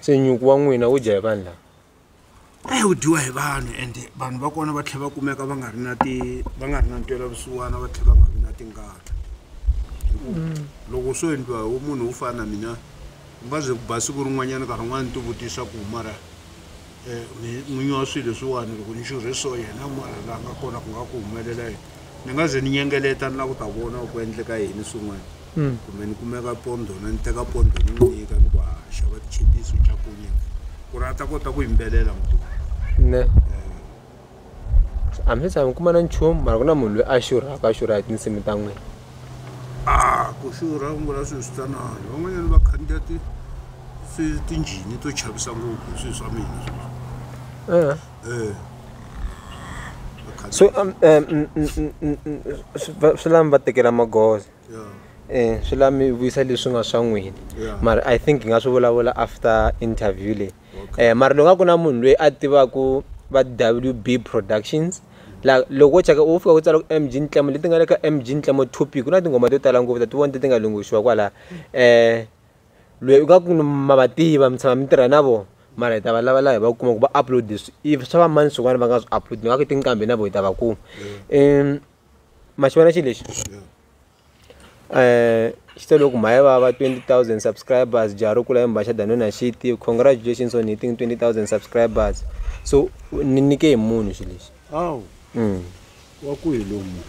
se nyuku wa n'wina wu dya hi vanhu lava eyi wu dyiwa hi vanhu ende vanhu va kona va tlhela va kumeka va nga ri na ti va nga ri na ntwela vusiwana va tlhela va nga vi na tingana mm. loko swo endliwa hi munhu wo fana na mina u nga ze ku ba siku rin'wanyana nkarhi un'wana ni tivutisa ku mara um n'winyi wa swilo leswiwani loko ni xurhe so yena mara la nga kona ku nga ku humelela yini ni nga ze ni nyengeleta ni la ku ta vona ku endleka yini swin'wana kumbe ni kumeka pondo na ni teka pondo ni n'wi nyika ni ku a xava tichipisi u dya kunye ku ri a ta kota ku yimbelela mutuku ne a mi se tshama mi kuma na nchumu mara ku na munhu loyi a xurhaka a xurha hi tinsimu ta n'wina a ku xurha ku ngula swilo swi tsanana van'wanyana va khandziya ti swi- tinjhini to chavisa ngopfu hi swilo swa mina swi va Eh. Eh. Va khandziya- so um, um, mm, mm, mm, mm, mm, swi- va- swi lava mi va tekela magoza um swi la mi vuyisa leswi nga swa n'wina mara i think hi nga swi vulavula after interview leyi um mara loko nga ku na munhu loyi a tivaku va w b productions la loko wo cheka u fika ku tsala ku m g ntlemo leti nga le ka m g ntlemo topic ku na tinghoma to tala ngopfu ta ti vona ti ti nga lunghixiwa kwalaya um loyi u nga ku ma va tiva mi tshama mi tirha na vona mara hi ta va lava laha hi va kuma ku va upload if swa va mani swin'wana va nga swi upload ni nga ku tinqambi na vona hi ta va kuma um ma xi vona xi lexi xi te loko mhaya vava twenty thousand subscribers jaha ri kula i mbhaxa than wena xi tiva congratulations on hitting twenty thousand subscribers so ni nyike hi munhu xi lexi wa ku hi lomu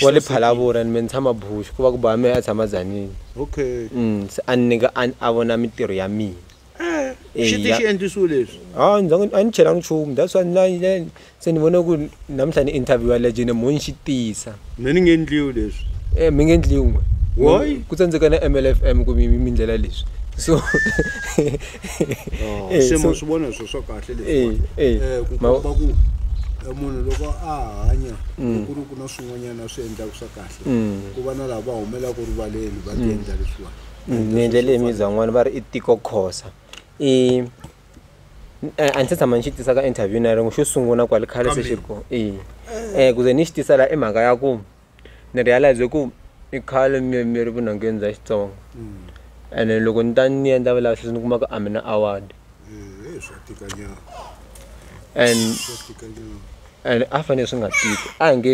wa le phalavura ni me ni tshama bush ku va ku ba mehe a tshama zanini okay se a ni nyika a vona mintirho ya mina Eh, xi ti xi endlisiwe leswi hayi ndza a ni chelanga nchumu that's why ni se ni vone ku namuntlha ni interviewa legend mo ni xi tisa me ni nge endliwi leswi um mi nge endliwi why ku tsandzeka na m l f m kumbe mi ndlela leswi so oh, eh, se mo swi vona swo swa kahle leswi eh, ku komba ku munhu loko a hanya mm. ku ri ku na swin'wanyana swi endlaka swa kahle mm. ku va na laha va humelaka rivaleni va ti mm. endla leswiwani ni endlele imizwa yin'wana va ri i tiko khosa i a ni se tshama ni xi tisa ka interview na rin'we xo sungula kwale khale se xi ri kona e um ku ze ni xi tisa laha i mhaka ya ku ni realize ku i khale mi mi ri vunhongeni bya xitsonga ene loko ni ta ni endla vulavisisi ni kuma ku a mi na award and and a fanele swi nga tiki a hi nge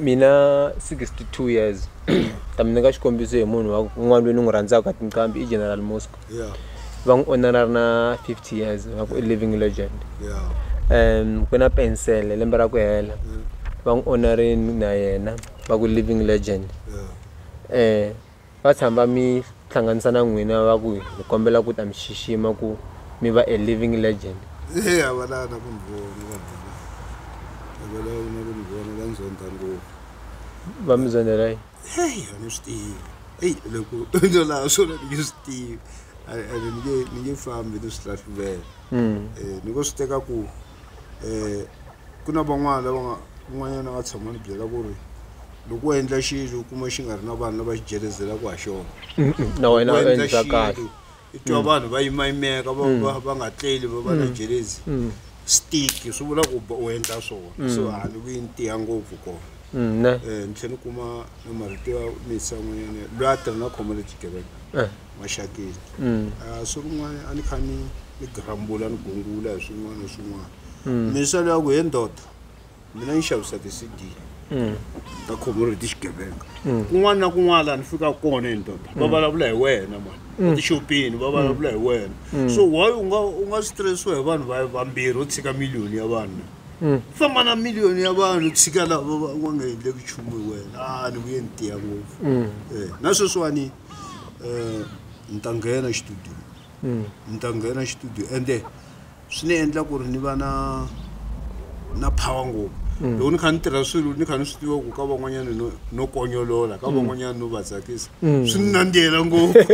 Mina sixty two years kambe ni nyika xikombiso hi munhu wa un'wana loyi ni n'wi rhandzaka tinqambi i General Muzka va n'wi onhela a ri na fifty years va ku i living legend ku na pensele lembe ra ku hela va n'wi onha rini na yena va ku living legend . va tshama va mi hlanganisa na n'wina va ku hi kombela ku ta mi xixima ku mi va a living legend e a va lava na ku ni vona vanhu a va lava na ku ni vona va ni zonda ngopfu va mi zondela yi heyi a ni swi tivi eyi loko no laha swona ni nge swi tivi ene ni nge ni nge fambi ni swi hlahluvela um ni ngo swi teka ku um ku na van'wana lava nga un'wanyana a nga tshama ni byela ku ri loko u endla xilo u kuma xi nga ri na vanhu lava xi jelezelaka ha xona na wena u endla endla kahle xilo i twa vanhu va yimayimeka va va va nga tleli va va na jelezi stick swi vula ku ba- u endla swona so a ni vuyi ni tiya ngopfu kona Mm, ne um ni tlhela ni kuma na marito ya misa n'wanyana loyi a tirha na khoma le xigevenga Eh. Maxakeni a swi rin'wana a ni kha ni ni grumble ni gungula hi swin'wana na swin'wana minsa leyi ya ku he ndoda mina ni xavisa ti-cd ta community xigevenga kun'wana na kun'wana laha ni fikaka kona hi ndoda va vulavula hi wena mani etixopini va vulavula hi wena so why u nga u nga stressiwa hi vanhu va vambirhi u tshika miliyoni ya vanhu famba na miliyoni ya vanhu tshika lava va nga endleki nchumu hi wena a ni vuye ni tiya ngopfu Eh, na sweswiwani um ni ta nghena xitudiyo ni ta nghena xitudiyo ende swi ni endla ku ri ni va na na power ngopfu mm. loko ni kha ni tirha swilo ni kha ni swi tiva ku ka van'wanyana no no konyolola ka mm. van'wanyana no va tsakisa mm. swi ni nandziyela ngopfu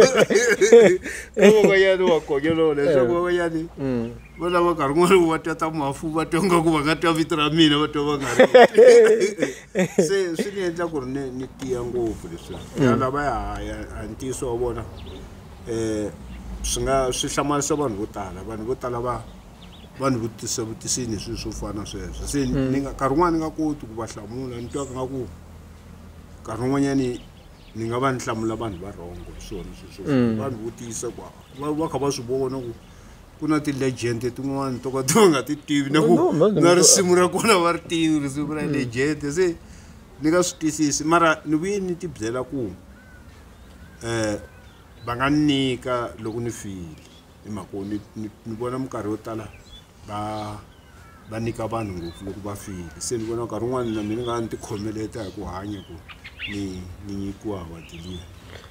ka van'wanyana wa konyolola leswaku eh. van'wanyani valava nkarhi n'wana va tata mafu va twa nga ku va nga twa vito ra mina va twa va nga ri se swi ni endla ku ri ni ni tiya ngopfu leswi mm. ya lava ya haya a ntiyiso wa vona um swi nga swi hlamarisa vanhu vo tala vanhu vo tala va va ni vutisa vutisini hi swilo swo fana sweswo se mm. ni nga nkarhi wun'wana ni nga koti ku va hlamula ni twaka nga ku nkarhi wun'wanyani ni nga va ni hlamula vanhu va rhongo hi swona sweswo mm. vanhu vutisa ku va va kha va swi vona ku ku na ti-legend tin'wani to ka ti va nga ti tivi na ku na risimu ra kona va ri tivi risimu ra mm. legend se ni nga swi twisisi mara ni vuye ni ti byela ku um va nga nyika loko ni file hi mhaka ni vona minkarhi yo tala va va nyika vanhu ngopfu loko va file se ni vona nkarhi wun'wani na mina ni nga ni ti khomeleta hi ku hanya ku ni ni nyikiwa award-i liya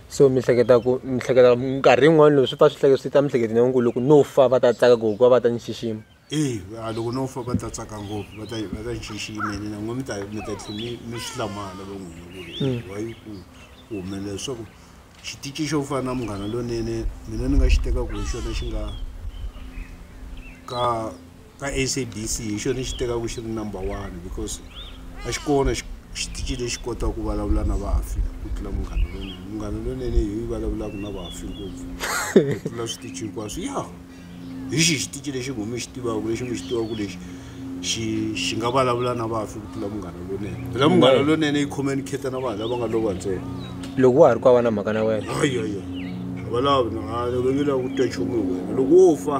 so mi hleketa ku mi hleketa minkarhi yin'wani loko swi pfa swi hleketa swi ta mihleketo na ku loko no fa va ta tsaka ku hikuva va ta ni xixima e a loko no fa va ta tsaka ngopfu va ta va ta ni xixima ene na n'we mi ta mi ta tlhe mi mi swi hlamala va n'wina ku ri why ku ku humelela leswaku Xitici xo fana na Munghana Lonene mina ni nga xi teka ku hi xona xi nga ka ka SABC hi xona ni xi teka ku xi ri number one because a xi kona xitici lexi kotaka ku vulavula na vafi ku tlula Munghana Lonene Munghana Lonene hi yi vulavulaka na vafi ngopfu ku tlula switici hinkwaswo ya. hi xihi xitici lexi n'wi mi xi tivaka lexi mi xi tivaka ku lexi xi xi nga vulavula na vafi ku tlula munghana lonene phela munghana lonene yi communicate na vanhu lava nga lova ntsena loko wa ha ri ku a va na mhaka na wena ayaya a va lavi na a va nge lavi ku twa nchumu hi wena loko wo fa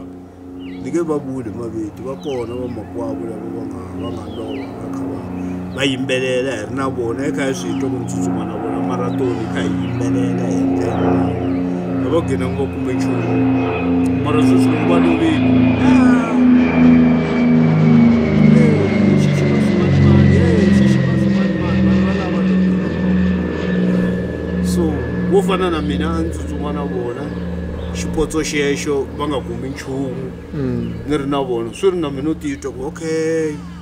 ni nge va vuli maviti va kona vamakwavo lava va nga va nga lova va yimbelela hi ri na vona hi kha hi swi twa ku ni tsutsuma na vona marathon hi kha hi yimbelela hi a va gina ngo kumbe nchumu mara sweswi loko va lovile so wo fana na mina a ni tsutsuma na vona xipotso xexo va nga kumi nchumu ni ri na vona swi ri na mina u titwa ku okay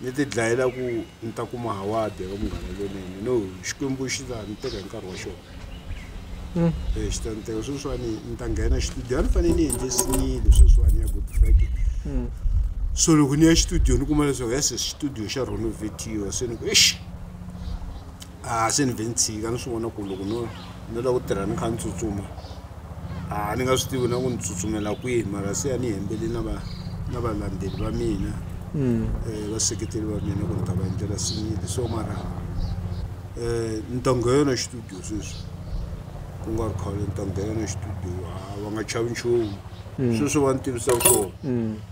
Ni ti dlayela ku ni ta kuma hawadi eka munghana lonene no xikwembu xi ta ni teka hi nkarhi wa xona um xi ta ni teka sweswiwani ni ta nghena xitudio a ni fanele ni endle sinile sweswiwani ya good friday hmm. so loko ni ya xitudio ni kuma leswaku yes xitudio xa renovatiwa se ni ku exi a se ni vhe ni tshika ni swi vona ku loko no no lava ku tirha ni kha ni tsutsuma a ni nga swi tivi na ku ni tsutsumela kwihi mara se a ni hembele na va na valandzeli va mina um vaseketeli va mina ku ni ta va endlela sinyile so mara um ni ta nghena xitudiyo sweswi ku nga ri khale ni ta nghena xitudiyo a va nga chavi nchumu sweswi va ni tivisaka swona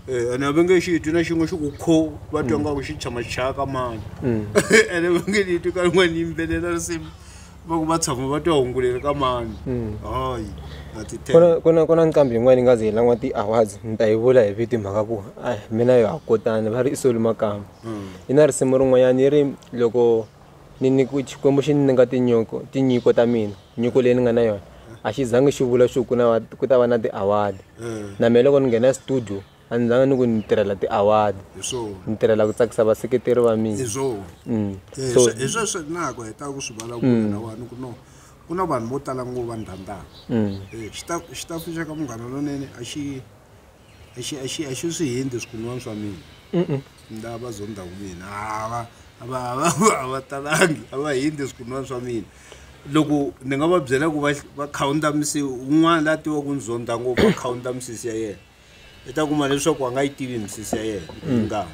Eh, ene a va nge xi twi na xin'we xi ku kho va twa nga ku xi tshama xi chaya ka mani ene va nge ni twi ka rin'wana yimbelela risimu va ku va tshama va twa hunguleri ka mani hayi a ti ku na ku na ku na nqambi yin'wana yi nga ze yi lan'wa ti-awards ni ta yi vula hi vito hi mhaka ku a mina yo ha kotani va ri i soli makamba yi na risimu rin'wanyana yi ri loko ni ni ku xikwembu xi ni nga tinyiko tinyiko ta mina nyiko leyi ni nga na yona a xi zangi xi vula xo ku na va- ku ta va na ti-award Mm. na mina loko ni nghena studio a ni zanga ni ku ni tirhela ti-award hi swona ni tirhela ku tsakisa vaseketeri va mina hi swona Mm. Eh, so swe- hi sweswo nako hi ta ku swi vulavula lawani ku no ku na vanhu vo tala ngo va ndhandaka mm. Eh, xita- xitafu xa ka munghana lonene a xi a xi a xi a xi swi hindi swikunwana swa mina nda va zonda wu mina a va a va a va a va talangi a va hindi swikunwana swa mina loko ni nga va byela ku va va khawunda misisi un'wana la tiva ku ni zonda ngopfu va khawunda misisi ya yena i ta kuma leswaku a nga yi tivi misisi ya yena yi nga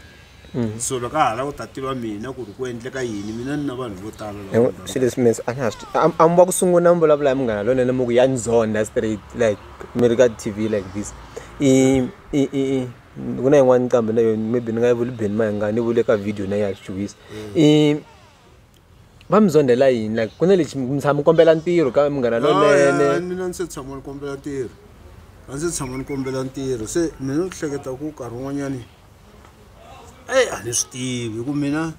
Mm. so loko a ha lava ku ta tiva mina ku ri ku endleka yini mina ni na vanhu vo tala swilo leswi mina a ni ha swi a mi va ku sungula mi vulavula hi munghana lonene mi ku ya ni zonda straight like mi ri ka t v like this i i i ku na yin'wana nqambi na yona maybe ni nga yi vuli beni ma hi nga ni vule ka video na ya xichuhisa i va mi zondhela yini like ku na lexi mi tshama mi kombela ntirho ka munghana lonene mina ndzi se tshama ni kombela ntirho a ndzi tshama ni kombela ntirho se mina ni hleketa ku nkarhi wun'wanyani eyi a ni swi tivi hi ku mina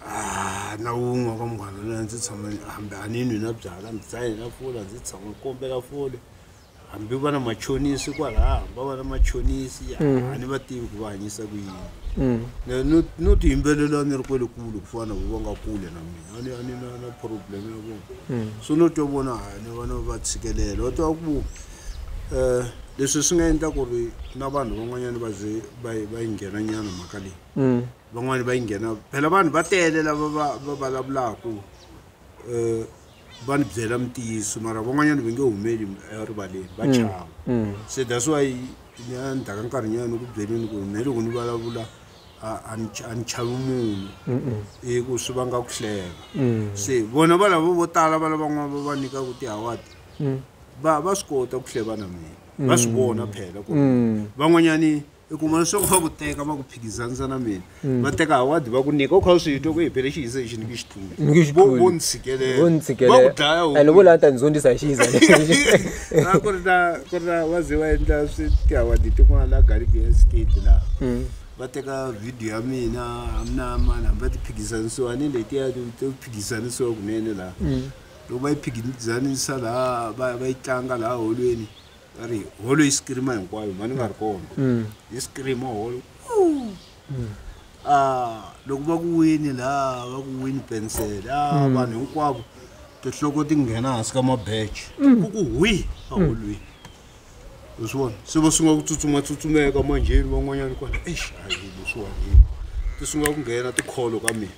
ah, na wun'we ka munghana lonene ndzi tshama hambi a ni nwi na byala ndzi dzaye na fula ndzi tshama ni kombela fole hambi va na machonisi kwalaho va va na machonisi a ni va tivi ku va hanyisa ku yini Mm. Ne- no- no tiyimbelela ni ri kwele kule ku fana ku va nga kule na mina a ni- a ni na na problem ya vona so no twa vona ha ni vana va tshikelela va twa ku um leswi swi nga endla ku ri na vanhu van'wanyana va ze va yi- va yi nghena nyana mhaka leyi Mm. van'wani va yi nghena phela vanhu va tele lava va va vulavulaka um va ni byela mintiyiso mara van'wanyana va nge humeli erivaleni va chava se that's why ni a ni taka nkarhi nyana ni ku byeleni ku me loko ni vulavula a- a ni ch- a ni chavi munhu i ku swi vanga ku hleva se vona va lavo vo tala va lavan'wana va va nyikaku tihawadi va va swi kota ku hleva na mina va swi vona phela ku van'wanyani i kuma leswaku va ku teka va ku phikizanisa na mina mm. va teka awadi va ku nyika u kha u swi twa ku hepele xihiza lexi ni ki xituluvo ni tshikelelava ku dlayaande vo lava ta ni zondzisa hi xihiza lexia ku ri na ku ri na va ze va endla swi tiawadi tin'wana la galibian state laha mm. va teka video ya mina amina mani hambi va ti phikizanisiwa ni letiya to phikizanisiwa kunene laha mm. loko va yi phikizanisa laha va yi tlanga laha holweni va ri holo yi sikirima hinkwayo mhani nga ri kona mm. yi sikirima holo mm. ah, loko va ku wini laha va ku wini pensele a ah, mm. vanhu hinkwavo tinhloko ti nghena hansi ka mabeche ku ku hwi aholweni u swi vona se va sungula ku tsutsumatsutsumeka manjheni van'wanyana kwala exi hayi leswiwani ti sungula ku nghena tikholo ka mina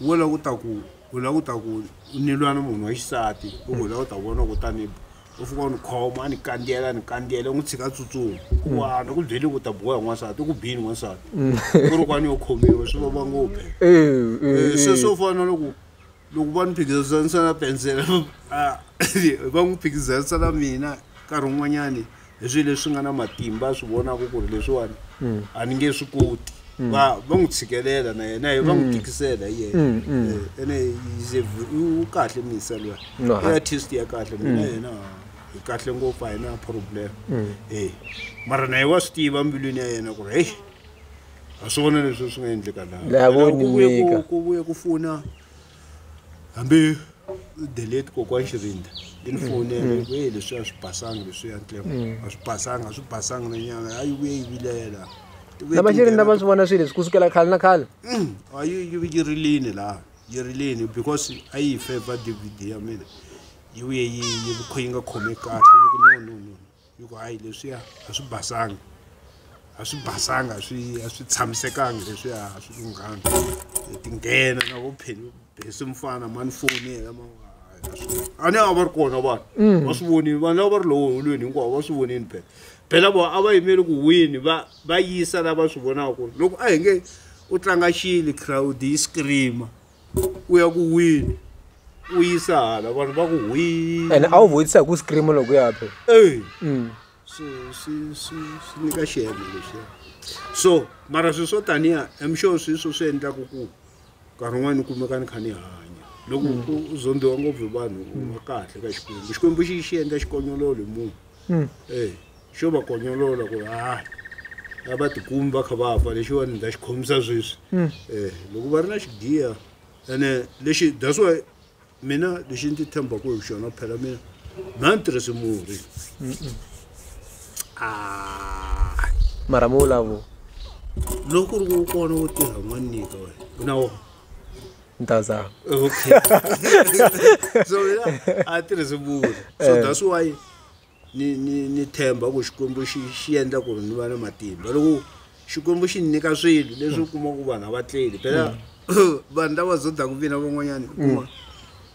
wo lava ku ta ku u lava ku ta ku u ni lwa na munhu wa xisati u ku u lava ku ta vona ku tani u fika u ni khoma a ni kandziyela a ni kandziyela u n'wi tshika tsutsuma ku wana ku byele ku ta biwa hi n'wansati u ku bini n'wansati ku ri kwani yo khomiwa swi vava ngopfu Eh, se swo fana na loko loko va ni phikizanisa na pensela a va n'wi phikizanisa na mina nkarhi wun'wanyani hi swilo leswi nga na matimba a swi vonaka ku ri leswiwani a ni nge swi koti va va n'wi tshikelela na yena va n'wi tikisela hi yena Eh, ene he's a v- u kahle misa luya No, i ha- artist ya kahle mina yena hi kahle ngopfu a hi na problem Eh, mara na ye wa swi tiva mbilwini ya yena ku ri heyi a swi vona leswi swi nga endleka laha. La Yena ku vuye ku- voniweka. ku vuye ku fona hambi delete kokwani xirinda i ni fonele mm. e leswi a swi basanga leswiya ntlema mm. a swi basanga a swi basanga na nyanga a yi vuye yi vilela lava xirinda va swi vona swilo leswi ku sukela khale na khale mm. a yi yi rilini laha yi rilini because a yi feva dvd ya mina yi vuye yi yi yi nga khome kahle yi ku no no no yi ku hayi leswiya a swi basanga a swi basanga a swi a swi tshamisekanga leswiya a swi lunghanga hi tinghena na vo pheli bese mfana mani foni yena ma a ni a va ri kona vanhu mm. va swi vonile vanhu lava va ri lowo holweni hinkwavo va swi vonile phela phela vo a va yimeli ku wini va va yisa lava swi vonaka ku ri loko a hi nge u tlanga xili crowd yi screama u ya ku wini u yisa hala vanhu va ku hwii ene a wu vutisa hi ku scream loko ya phe eyi mm. swi swi swi swi nyika xihelo lexi so mara swilo swo taniya am sure swi swo swi endlaku ku nkarhi un'wana ni kumeka ni kha ni hanya loko u zondhiwa ngopfu hi vanhu u va kahle ka xikwembu xikwembu xi xi endla xikonyololo hi munhu mm. eyi xo va konyolola ku ri hayi a va tikumi va kha va fa lexiwani ni ta xi khomisa sweswi um loko va ri na xigiya ene lexi that's why mina lexi ndzi tshembaka hi xona phela mina mha ni tirhisi murhi mara mi vulavu loko ku ri ku kona wo tirha n'wana nyika wena u na wona ni ta zama okay so mina a tirhisi murhi so that's why ni ni ni themba ku xikwembu xi xi endla ku ri ni va na matimba loko xikwembu xi ni nyika swilo leswi u kuma ku vanhu a va tleli phela vanhu lava zodaka vina van'wanyana u kuma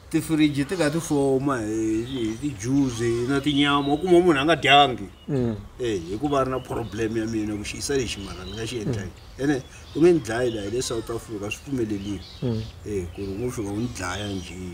tifiriji ti kha ti foma hi hi tijuzi na tinyama u kuma munhu a nga dyangi Mm. e hikuva a ri na problem ya mina ku xiyisa lexi mara ni nga xi endla yini ene u nge ni dlayi laha hi le south africa swi pfumelelile Mm. e ku ri ngo fika u ni dlaya njhe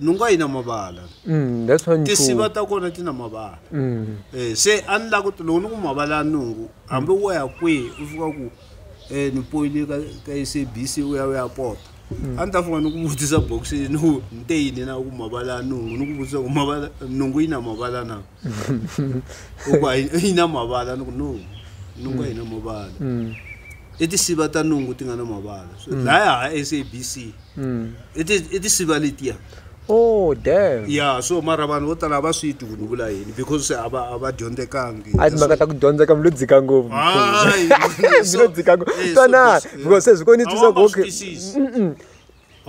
nhungu a yi na mavala mm, that's one tinsiva ta kona ti na mavala mm. eh, se a ni la ku ti loko ni ku mavala ya nhungu hambi wo ya kwihi u fika ku um ni poyile ka ka sabc u ya u ya pota a ni ta fika ni ku vutisa boxini ni ku ni te yini na ku mavala ya nhungu ni ku vutisa ku mavala nhungu yi na mavala na hikuva a yi- yi na mavala ni ku no nungu a yi na mavala Mm. i tinsiva ta nungu ti nga na mavala So, laya ha sabc Mm. i ti- i tinsiva letiya oh damn ya so mara vanhu vo tala a va swi twi ku ni vula yini because se a va a va dyondzekangi a timhaka ta ku dyondza ka mi lo dzika ngopfu Hayi, mi lo dzika ngopfu Eh, so twanani this- because se swi ko ni A twisa wa ku ma okay swi twisisi. Mm-mm.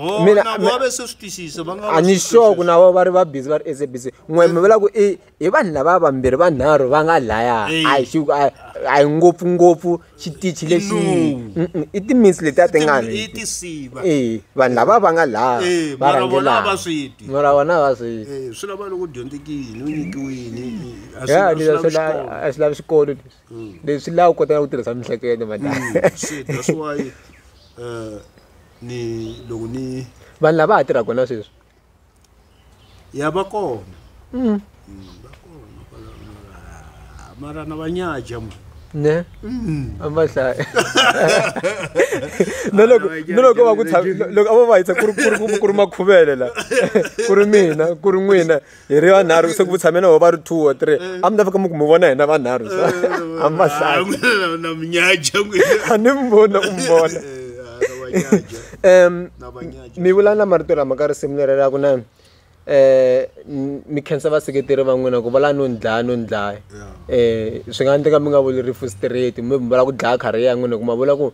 Oh, Mina- na mina- vona va se swi twisisa va nga a ni sure ku na vona va ri va busy va ri SABC n'we mi vula ku i hi vanhu lava vambirhi vanharhu va nga laya Eyi. a hi xi- a- a hi ngopfungopfu xitichi lexi No. Mm-mm, i timinsi letiya ti nga i tisiva e vanhu lava va nga laya Eh, va mara vona rhangelaka. va swi ti. mara vona va swi Eh, swi lava loko dyondzekini u nyikiwini eh, a swi- ya a swi leswi lavi a swi xikolo. lavi a swi lavi xikolo leswi mm. leswi laha u kotaka ku tirhisa mihleketo madlayi mm, eh, ni loko ni vanhu lava ha tirhaka na sweswi ya va kona mm. va kona mara na vanyaja mu ne mm. amahlaya na loko na loko va ku loko a va va yisa ku ri ku ri ku ri makhuvele la ku ri mina ku ri n'wina hi ri vanharhu se ku tshame na ho va ri two or three eh. a mi ta fika mi ku mi vona hina vanharhu sa eh, eh, a mi vahlaana minyaja a ni mi vona ku mi vona um mi vula na marito lama ka risimu leri ra ku na um mi khensa vaseketeri va n'wina ku va la no ni dlaya no ni dlaya um swi nga endleka mi nga vuli rifu straight mi vula ku dlaya kharhi ya n'wina ku ma vula ku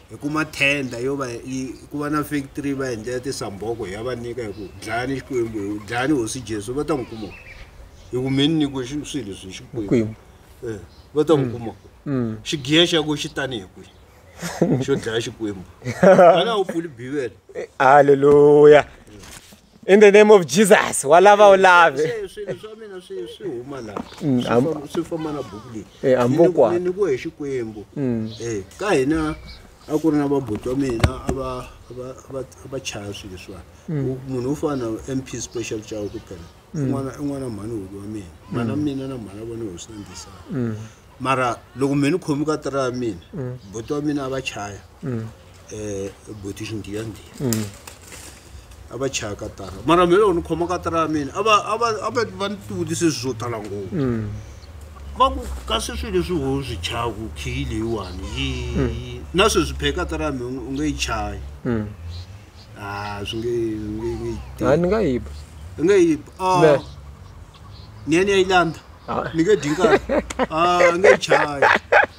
hi kuma tender yo va yi ku va na factory va endlela tisamboko hi ya va nyika hi ku dlayani xikwembu hi dlayani hosi jesu va ta n'wi kuma hi ku mi ni nyikiwe swilo leswi hi xikwembu eh, va ta n'wi mm. kuma mm. xigiya xa ku xi tani hi kwihi xo dlaya xikwembu ana wu pfuli bivele eh, halleluya in the name of jesus wa lava u lave Se swilo swa mina swi swi huma laha Mm, Swi am- fam- swi famba na buku leyi Eh, ambokwa. Ni- ni ku hi xikwembu Eh, ka hina a ku ri na vabuti wa mina a va- a va- a va- a va chaya swilo leswiwani U- munhu wo fana na mp special chawo kuphela un'wana un'wana mhani huku wa mina mhana mina na mhana vona hosi na ndisana mara loko mina ni khomi ka tira ya mina mm. buti wa mina a va chaya um buti xindiyandiyani mm. a va chaya ka tara mara mina loko ni khoma ka tara ya mina a va ni tivutise swi swo tala ngopfu mm. va ku kasi swilo leswi ho swi chayaku khiyi leyiwani yi na sweswi phe ka tara ya mina u nge yi chayi a swi nge nge nge yi nga yi ba nge yi ba ni ya ni ya yi landza ni nge dyi nkarhi a nge yi chayi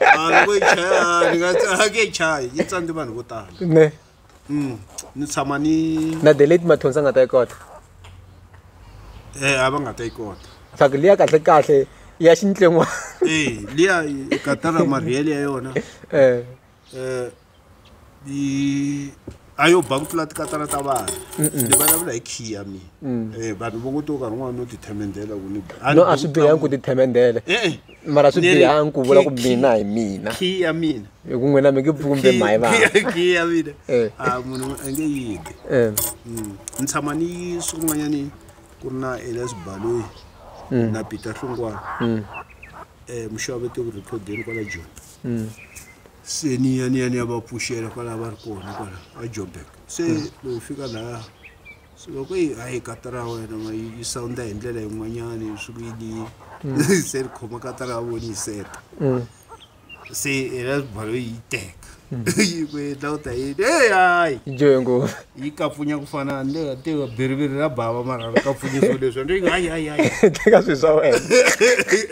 a loko yi chaya ni nga a nge yi chayi yi tsandze vanhu vo tala ne Mm, ni tshama ni na the late mathonsi a nga ta yi kota eh a va nga ta yi kota swaku liya kahle kahle ya xintlen'wana eh liya katara marhiyele ya yona eh eh yi a yo ba ku tlula tikatara ta vanhu ni vulavula hi khiya mina um mm. eh, vanhu vo ngo to karhi un'wana no tithemendela ku ni no a swi bihangi ku tithemendela eh, eh. mara swi bihangi ku vula ku mina hi mina khiya mina hi ku n'wina mi nge pfumbe mhayi vakhiya mina a ah, munhu a nge yidi mm. ni tshama ni swin'wanyani ku ri na elias baloyi mm. na peter hlungwana um muxavete ku riphodeni kwala joni se ni ya ni ya ni ya va pfuxela kwalaho va ri kona kwala a joburg se loko hi fika laya se loko yi hayi kata ra wena ma yi yi sounda hi ndlela yin'wanyana yi swi kuyini se ri khoma kata ra vona yi seta se yena balo yi yi teka yi ku endla u ta yini hey hayi yi dyohe ngopfu yi kapfunya ku fana ni le tiva biriviri ra bava mara ri kapfunya swilo leswi ni ri hayi hayi hayi teka swilo swa wena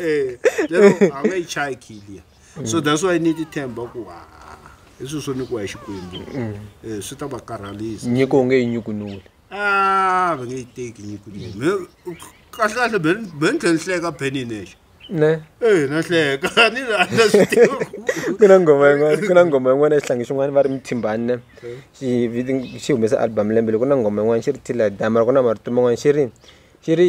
Eh, lero a nga yi chayi khiliya so that's why ni ti tshemba ku ha i swilo swo nyikiwa hi xikwembu um swi ta va karhalisa nyiko u nge yi nyukunuli a ah, va nge yi teki nyiko kahlekahle be ni tlhe ni hleka beni yi nexe ne ee eh, na hleka ni rhandza ku na nghoma yin'wana ku na nghoma yin'wana xihlangi xin'wana va ri mithimbani ne xi humesa album lembe loko ku na nghoma yin'wana xi ri tila dama loko na marito man'wana xi ri Xi ri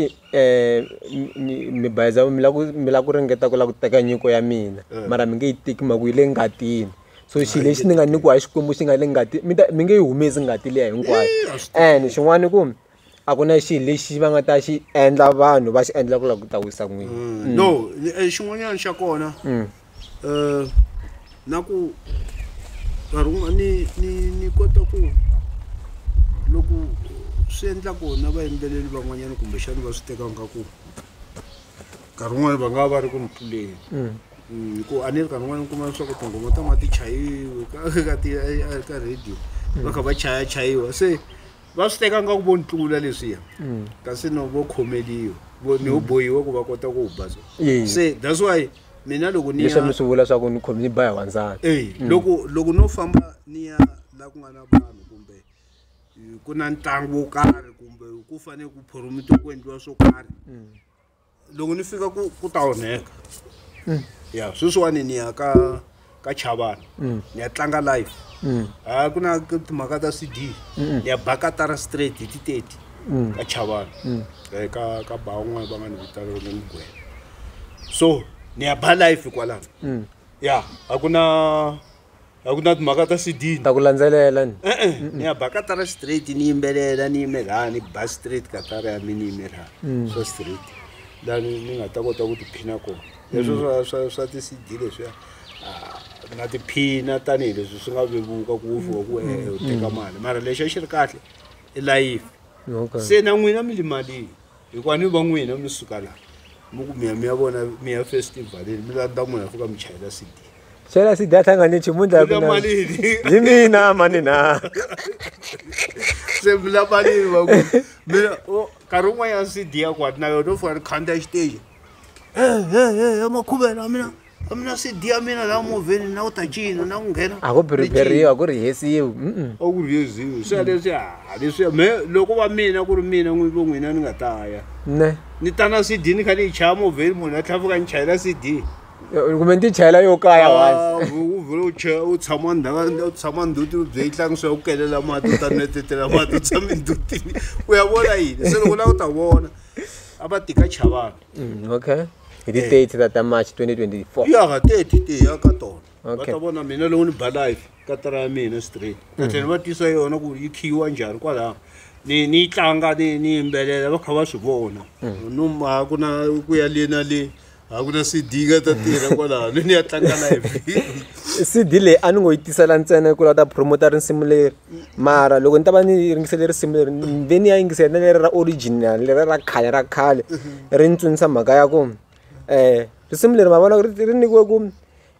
mi mi bayiza mi lava ku mi lava ku ringeta ku lava ku teka nyiko ya mina mara mi nge yi teki hi mhaka ku yi le ngatini so xilo lexi ni nga nyikiwa hi Xikwembu xi nga le ngatini mi ta mi nge yi humesi ngati liya hinkwayo and xin'wana i ku a ku na xilo lexi va nga ta xi endla vanhu va xi endla ku lava ku ta wisa n'wini no xin'wanyana xa kona. na ku nkarhi wun'wana ni ni ni kota ku loko swi endla kona vayimbeleri van'wanyana kumbexana va swi teka nga ku nkarhi wun'wana va nga va va ri ku ni tluleni mm. Mm, hi ku a ni ri nkarhi wun'wana ni kuma leswaku tinghoma ta nga ti chayiwi ka ti ka radio mm. va kha va chaya chayiwa se va swi teka nga ku vo ni tlula leswiya kasi no vo khomeliwa ni ho bohiwa ku va kota ku wu baza se that's why mina loko ni leswi mi swi vula swa ku ni khomi ni ba hi wandzana eyi mm. loko loko no famba ni ya la ku nga na vanhu kumbe eh, ku na ntlangu wo karhi kumbe ku fanele ku phoromitiwa ku endliwa swo karhi mm. loko ni fika ku ku ta onheka mm. ya sweswiwani ni ya ka ka chavani mm. ni ya tlanga live mm. a ku na timhaka ta cd mm. ni ya bakatara straight hi titeti ka chavani eh, ka ka ba un'wana va nga ni vitana rona mugwena so ni ya ba live kwalano ya a ku na a ku na timhaka ta cd ta ku landzelela ni e-e ni ya bakatara straight ni yimbelela ni yimelaa ni ba straight katara ya mi ni yimelaa so straight lani ni nga ta kota ku tiphina kona leswo swa swa swa ti CD leswiya ah, na tiphina tanihileswi swi nga vevuka ku ufiwa ku ehe u teka mali mara lexi a xi ri kahle i layifi Okay. se na n'wina mi li malini hikuva ni va n'wina mi suka laha mi ku miya mi ya vona mi ya festivalini mi landza n'wina ya fika mi chayela CD Xana si data nga ni nchumu ndla Eka malini? Hi mina mani na. se mi la malini va ku mina o nkarhi wun'wanyana CD ya kwati na yona u fika ni khandziya xiteji hehe makhuvela a mina a mina cd ya mina laha movheni na ku ta cina na ku nghena a ku biriberiwa a ku rihesiwi a ku rihesiwi swa leswi a ah, leswi me loko va mina ku ri mina n'wi vo n'wina ni nga ta ya ne ni ta na cd ni kha ni yi chaya movheni munhu a tlhavuka ni chayela cd kumbe ni ti chayela yo kaya ah, u vhele u chaya u tshama ndhawa u tshama nduti u bye yi tlangisa ya ku kelela mati u ta netetela mati u tshame ndutini u ya vona yini se loko la u ta vona a va tika chavani Mm, okay hi ti 30 ta ta march 2024 ya ka teti ti ya ka tona va Okay. ta vona mina loko ni ba life ka tara ya mina straight va tlhela va tisa yona ku yi khiyiwa njhani kwalaho ni ni yi tlanga ni ni yimbelela va kha va swi vona no ma ku na ku ya le na le a ku na sidinga ta tirha kwalano ni ya tlanga na cd leyi a ni ngo yi tisela ntsena yi kula ta promota risimu leri mara loko ni ta va ni yingisele risimu leri ve ni ya yingisela na leri ra original leri ra khale ra khale ri ni tsundzusa mhaka ya ku um risimu leri ma vona ri nyikiwe ku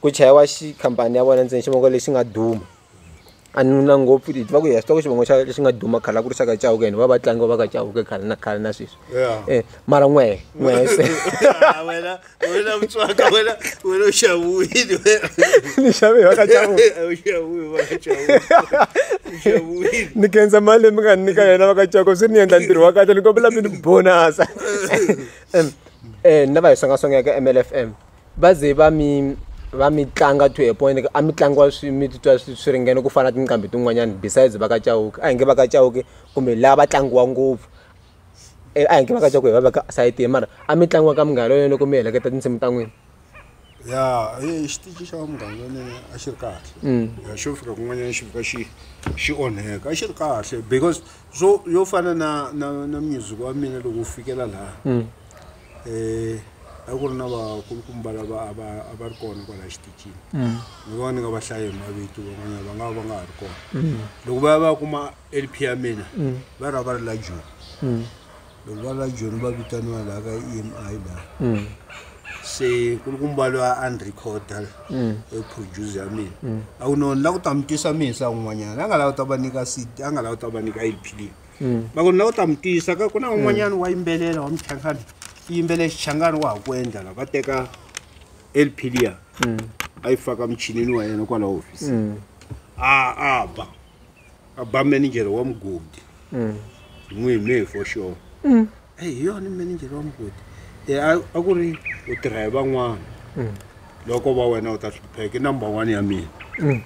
ku chayiwa xi khampani ya vona ntsena xivongo lexi nga duma a ni na ngopfu hi tiva ku hi swi tiva ku xivongo xa lexi nga duma khale a ku ri xa ka Chauke and va va tlangi va va ka Chauke khale na khale na sweswi e mara n'we n'we se wena wena mutswaka wena wena u xavuwile wena ni xave va ka Chauke u xavuwile va ka Chauke u xavuwile ni kenza mali mi nga nyika yena va ka Chauke swi ni endla ntirho wa kahle ni kombela mi ni bonasa eh ni lava hi songasongeka MLFM va ze va mi va mi tlanga to a point a mi tlangiwa swi mi titwa swi swi ringene ku fana na tinqambi tin'wanyani besides va ka Chauke a hi nge va ka Chauke kumbe la va tlangiwa ngopfu a hi nge va ka Chauke hi va veka aside mara a mi tlangiwa ka munghana lonene loko mi heleketa tinsimu ta n'wina. Ya i xitichi xa munghana lonene a xi ri kahle ya xo fika kun'wanyana xi fika xi xi onheka a xi ri kahle because swo yo fana na na na music wa mina loko wu fikela laha. um a ku ri na vakulukumba lava a va a va ri kona kwalaha xitichini mm. ni vona ni nga va hlayi hi mavito van'wanyana va nga va va nga ha ri kona mm. loko va ya va ya kuma lp ya mina mm. va ra va ri la joni loko va ri la joni va vitaniwa laha ka e m i laha se kulukumba loyi a ni recorda eproduce ya mina a ku noni la ku ta mi tisa mina sa un'wanyana a nga lava ta va nyika cd a nga lava ta va nyika lp leyi mm. va ku na u ta mi tiyisa ka ku na un'wanyana wa yimbelela wa muchangani i yimbele xichangani wa ha ku endla la va teka lplia mm. a yi faka muchinini wa yena kwala hofisi mm. a a ba a ba manager wa mugodi n'wi me for sure eyi hi yona manager wa mugodi e, a ku ri u tirha hi van'wana loko va wena u ta hlupheka i number one ya mina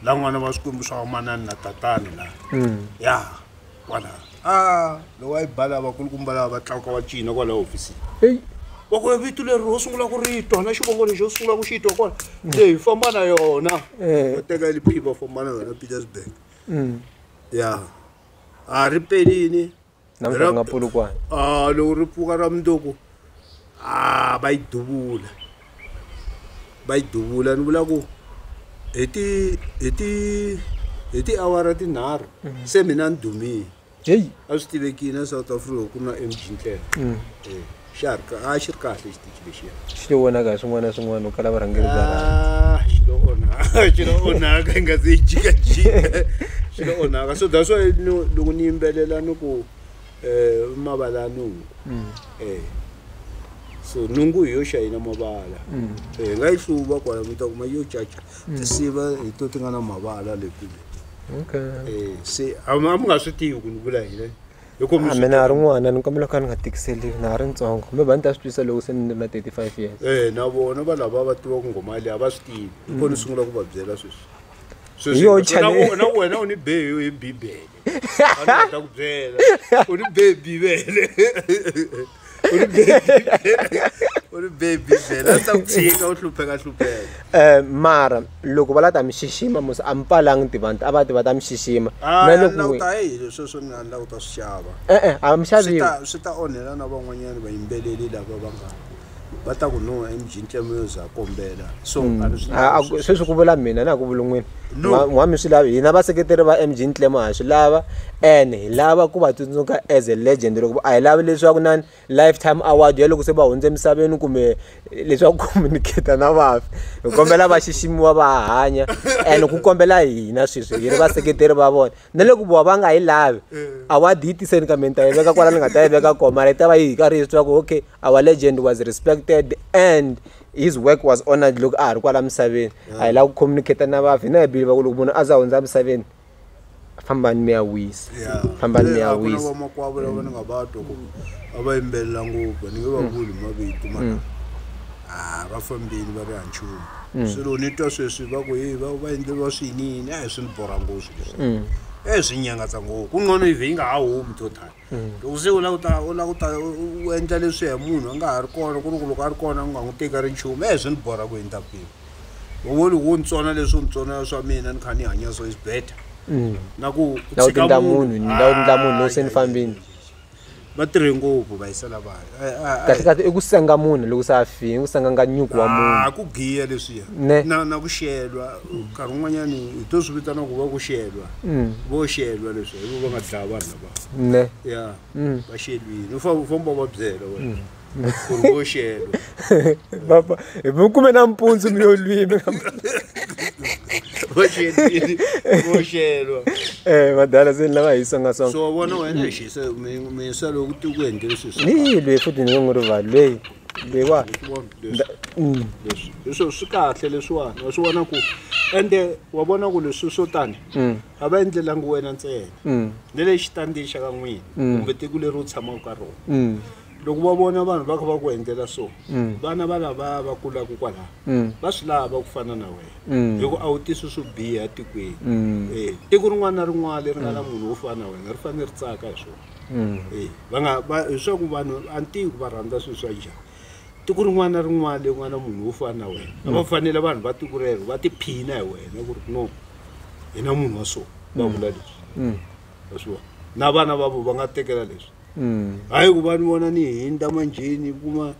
la n'wana va swikwembu swa vamanani na tatani la ya kwala a lowa yi bala vakulukumba lava va tlakuka va cina kwala hofisini eyi wa ku vito leri ho sungula ku ri twa na xivongo lexi ho sungula ku xi twa kwala leyi famba na yona Eh. va teka liphiva famba na yona petersburg Mm. ya a ri pelini namuntlha ku nga pfulukwana a loko ri pfuka ra mundzuku a va yi duvula va yi duvula ni vula ku hi ti hi ti hi tiawara tinharhu mhm. se mina ni dumile heyi a swi tivekile na south africa ku na mg ndlela mm. eh, xa ri a xi ri kahle xitichi lexiya xi lo vonaka hi swin'wana na swin'wana u kala varhangeri bya ah, xi lo onhaka xi lo onhaka hi nga se yi jikajika xi lo onhaka so that's why loko ni yimbelela ni ku Eh, i mavala ya nungu eh so nungu hi yo xayina mavala eh hi nga yi hluva kwala mi ta kuma yo caca tinsiva hi to ti nga na mavala le kule okay eh se a mi a mi nga swi tivi ku ni vula yini hi ku mi a swi mina a ri n'wana ni kombela ku ka ni nga tikiseliwi na ha ri ntsongo kumbe va ni ta swi twisa loko se ni ri na 35 years eh na vona va lava va tiva ku ngoma leyi a va swi tivi hi kona ni sungula ku va byela sweswi Hi yo sweswi na channel- ku- na ku wena u ni be hi bibele ta ku byela u ri bebi vele u ri bebi u ri bebi vele a ta ku tshika u hlupheka hlupheka um mara loko va la ta mi xixima musi a mi pfalangi tivanti a va ti va ta mi xixima ah, na lokuta hi leswi sweswo ni handla ku ta swi xava e-e a mi xaviwi swi ta onhela na van'wanyana vayimbeleri lava va nga va ta ku no emjintlemo yo za kombela so mm. a ri swi ah, ah, sweswi ku vula mina na ku vulun'wini n'wa mi swi lava hina vaseketeri va mg ntlemo ha swi lava and hi lava ku va tsundzuka as a legend loko a hi lavi leswaku na lifetime award ya loko se va hundze emisaveni kumbe leswaku communicate na vafi hi kombela va xiximiwa va hanya and ku kombela hina sweswi hi ri vaseketeri va vona na loko vona va nga yi lavi eh. award yi tiseni kambe ni ta yi veka kwala ni nga ta yi veka koma yi ta va yi hi karhi hi swi tiva ku okay our legend was respected and his work was honored loko a ha ri kwala misaveni a hi lava ku communicate na vafi hina hi believe ku loko munhu a za hundza misaveni fambani mi ya wisa fambani mi ya wisa vamakwavo lava ni nga va twa ku a va yimbelela ngopfu ni nge va vuli mavito ma mm. a va fambile va ri hanchumu mm. swilo ni twa sweswi va ku hi va va endleriwa swiyiniyini a hi swi ni borha ngopfu leswi mm. e swi nyangatsa ngopfu ku nqono yive yi nga ha humi to tani Loko se u lava ku ta u lava ku ta u endla leswiya hi munhu a nga ha ri kona ku ri ku loko a ri kona u nga n'wi teki a ri nchumu e swi ni borha ku endla kwini u ngo loko wo ni tsona leswi u ni tsona swa mina ni kha ni hanya so is better na ku u Loko tshika tindla munhu, munhu ni lava ku tindla munhu loko se ni Ay, ay, ay, fambini. ay, ay. va tirhe ngopfu va yisela vanhu Ay, ay, ay. kahle kahle i ku senga munhu loko se a fini i ku senga nga nyuku wa munhu Ah, ku giya leswiya Ne. na na ku xelwa nkarhi wun'wanyani hi to swi vitana ku va ku xelwa vo xelwa leswi hi vo va nga dlaya vanhu lava ne ya Mm. va xelwini u fa- u famba va byela wena ku ri vo xelo Baba, hi mi kume nampundzu mi yo lwimi va xelwini vo xelwa Eh, vadala se ni lava hi songasonga so wa vona wena hi xisa mi- minsa loko ti ku endlele sweswi ni lweyi futhi ni nge n'wi rivali lweyi lweyiwa Vona leswi- Mm. leswi leswi swi kahle leswiwani wa swi vona ku ende wa vona ku leswi swo tani Mm. a va endlelangi wena ntsena ni le xitandzini xa ka n'wina kumbe tiko leri u tshamaka ka rona loko va vona vanhu va kha va ku endlela so vana va lavaya va kulaka kwalaho va swi lava ku fana na wena hikuva a wu tisi swo biha etikweni um tiko rin'wana na rin'wana leri nga na munhu wo fana na wena ri fanele ri tsaka hi swona um va nga va hi swaku vanhu antiko va rhandza swilo swa njhani tiko rin'wana na rin'wana leyi nga na munhu wo fana na wena a va mm. fanele vanhu va tiko rero va tiphina hi wena ku ri no hi na munhu wa so va vula mm. leswi mm. wa swi vona na vana vavo va nga tekela leswi hayi ku va ni vona ni hindza manjheni kuma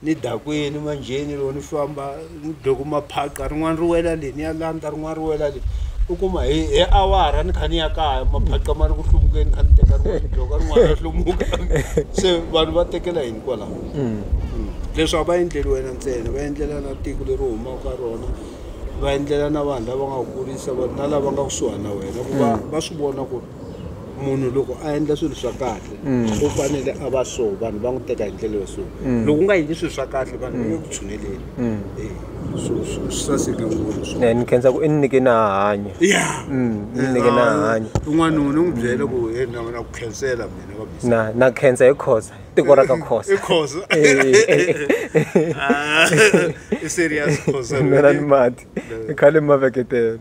ni dakwini manjheni loko ni famba loko maphaqha rin'wana ri wela le ni ya landza rin'wana ri wela le u kuma hi hi awara ni kha ni ya kaya maphaqha ma ri ku hluvukeni kha ni teka rin'wana bloka rin'wana ri hlumuka se vanhu va tekela yini kwalaho mm. mm. leswi a va endleli wena ntsena va endlela na tiko leri humaka ka rona va endlela na vanhu lava nga kurisa vanhu na lava nga kusuhani na wena ku va mm. va swi vona ku ri munhu loko a endla swilo swa kahle u fanele a va so vanhu va n'wi teka hi ndlela yo so loko u nga endli swilo swa kahle vanhu va nge ku tshuneleli Eh, so so swi saseke ngopfu swo Eh, ni khensa ku i ni nyike na hanya ya Mm, ni nyike na hanya un'wana u n'wi byela ku "Hey, na na ku khensela mina va bisa na na khensa hi khosa tiko ra ka khosa i khosa Eh, Ah, i serious khosa mina ni mati i khale maveketela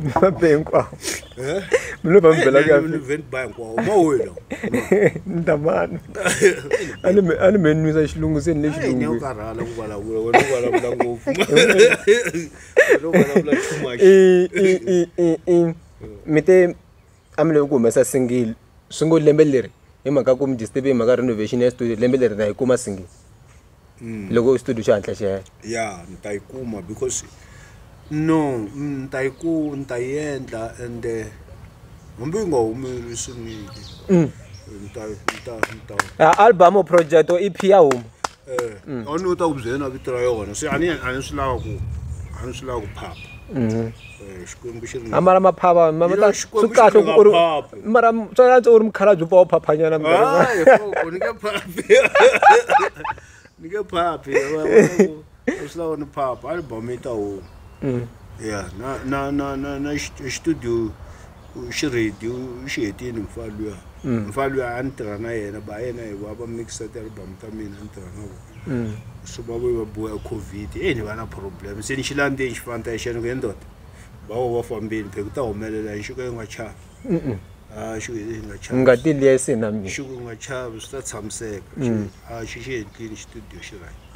mi va be hinkwavo eh? mi lo va mi bela kuyani ni ta mani a ni mi nwisa xilungu se ni le xilungumite a mi levi ku humesa single swi ngo lembe leri hi mhaka ku mi disturb hi mhaka renovation ya studio lembe leri na yi kuma single hmm. loko studio xi hatla xi hela ya ni ta yi kuma because no ni ta yi ku ni ta yi endla and eh, hambi yi nga humeli swinile hmm. ni ta ni ta ni ta album project or EP ya huma Mm. a ni u ta ku byela na vito ra yona se a ni a ni swi lava ku a ni swi lava ku phapha mm-hmm. eh, xikwembu xi ri amara maphava swi kahle ku ri mara swa yantswa u ri mukhala byi pfa u phaphanyana ni nge phaphi ni nge phaphi swi lava ni phapha album yi ta huma mm. ya na na na na na studio u xi ready u xi hetini mfana luya mfana luya a ni tirha na yena ba yena hi va va mixa ti-album ta mina ni tirha na vona so va vuye va boya covid e ni va na problem se ni xi landzeni xifana ta xena ku he ndoda ba wo va fambeni pheke ku ta humelela ni xiko yi nga chavi a xiko yi nga chavi ngati liya yi se na mina xiko yi nga chavi swi ta tshamiseka a xi xi endlini xitudiyo xi right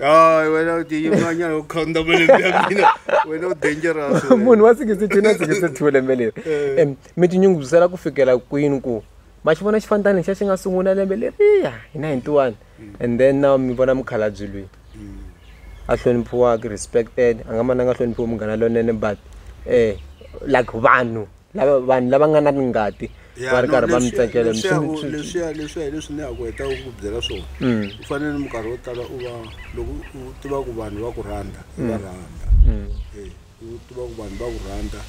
Ay, bueno, DJ Maña, lo conda me le mina. Bueno, dangerous. Munhu wa 62 na 62 lembe leri. Eh. Em, mi ti nyungubyisela ku fikela kwini ku ma xi vona xifantani xa xi nga sungula lembe leriya hi 91 mm. and then now mi vona mukhalabyi loyi mm. a hloniphiwaka respected a nga mananga hloniphiwa munghana lonene but eh like vanhu lava vanhu lava nga na ngati va ri karhi va mi tsakela leswiya leswiya hi leswi ni ya ku heta ku byela swona mm. u fanele minkarhi yo tala u va loko u tiva ku vanhu va ku rhandza u va mm. rhandza mm. eh, u tiva ku vanhu va ku rhandza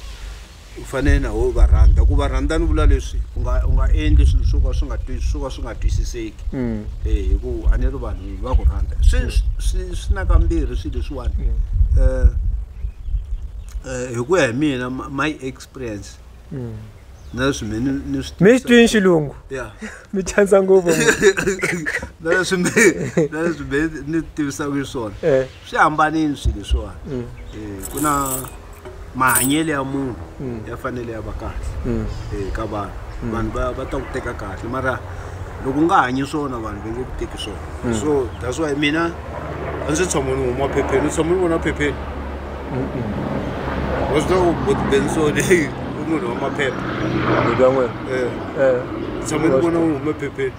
u fanele na wo va rhandza ku va rhandza ni vula leswi u nga u nga endli swilo swo ka swi nga swo ka swi nga twisiseki mm. eh, hi ku a ni ri vanhu va ku rhandza swi mm. swi swi na kambirhi swilo leswiwani um Eh, hi ku ya hi mina my experience mm. na leswi mi ni swi mi xi twini xilungu ya mi chanisa ngopfu na leswi mi na leswi mi ni tivisaka hi swona eh. swi hambanini swilo leswiwani mm. eh, ku na mahanyelo ya munhu mm. ya fanele ya va kahle ka vanhu vanhu va ta ku teka kahle mara loko u nga hanyi swona vanhu va nge ku teki swona so that's why mina a ndzi tshama ni huma phepheni ni tshama ni vona phepheni wa swi tiva ku bensoni heyi i munhu wa maphepha ndzi ya n'wina Eh, eh ni tshama ni vona wu hume phepheni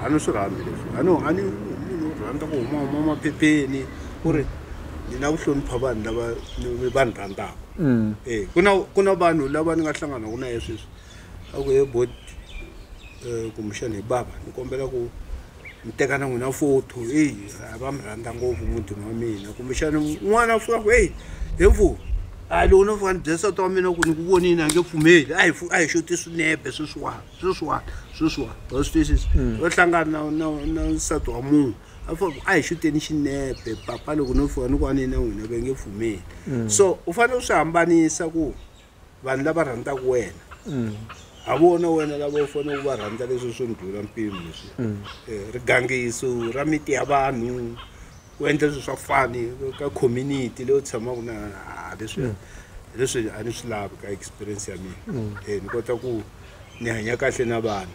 a ni swi rhambi leswi a ni a ni munhu u rhandza ku huma huma maphepheni ku ri ni na ku hlonipha vanhu lava ni- va ni rhandzaka Mm. Eh, ku na ku na vanhu lava ni nga hlanganaka na ye sweswi a ku he bot kumbexani hi bava ni kombela ku ni teka na n'wina photo eyi a va mi rhandza ngopfu mutini wa mina kumbexana n'wana a fika ku eyi he mfuni a loko no fika ni bye nsati wa mina ku ni ku vonini a nge pfumeli a hi a hi xo ti swinepe sweswiwani sweswiwani sweswiwani wa swi twisisa mm. va hlangana na na na nsati wa munhu a fika ku a hi xuteni xinepe papa loko no fika ni ku a ni na n'wina ve nge pfumeli mm. so u fanele u swi hambanisa ku vanhu lava rhandzaka wena ha vona wena lava u fanele u va rhandza leswi swi ndlula mpimo leswi mm. eh, rigangiso ra miti ya vanhu ku endla leswi swa fani ka community leyi u tshamaka na leswi mm. leswi a ni swi lavi ka experience ya mina mm. eh, ni kota ku ni hanya kahle na vanhu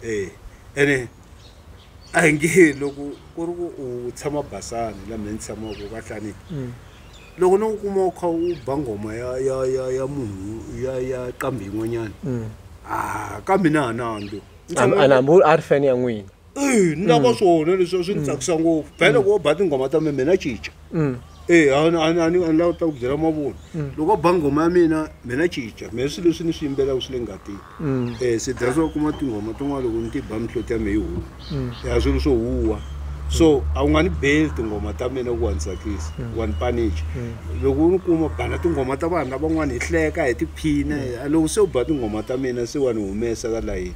eh, ene a hi nge loko ku ri ku u tshama basani laha mina ni tshamaka ka hlaniki Loko no ku kuma u kha u ba nghoma ya ya ya ya munhu ya ya qambi yin'wanyana ah ka mina a na hambi An- a ni hambi u- a ri fan ya n'wina Eh, ni lava swona leswi a swi ni tsakisa ngopfu phela loko wo ba tinghoma ta mina mina cinca Eh, a ni- a ni- a ni a ni lava ku ta ku byela mavunwa loko wo ba nghoma ya mina mina cinca mina swilo leswi ni swi yimbelaka swi le ngatini um se that's wa kuma tinghoma tin'wana loko ni ti ba mihloti ya me yi huma ya um swilo swo huwa so a wu nga ni beli tinghoma ta mina ku wa ni tsakisa mm. wa ni panicha mm. loko u ni kuma bana tinghoma ta vanhu lavan'wana hi hleka hi tiphina mm. loko se u ba tinghoma ta mina se wa ni humesa ka layini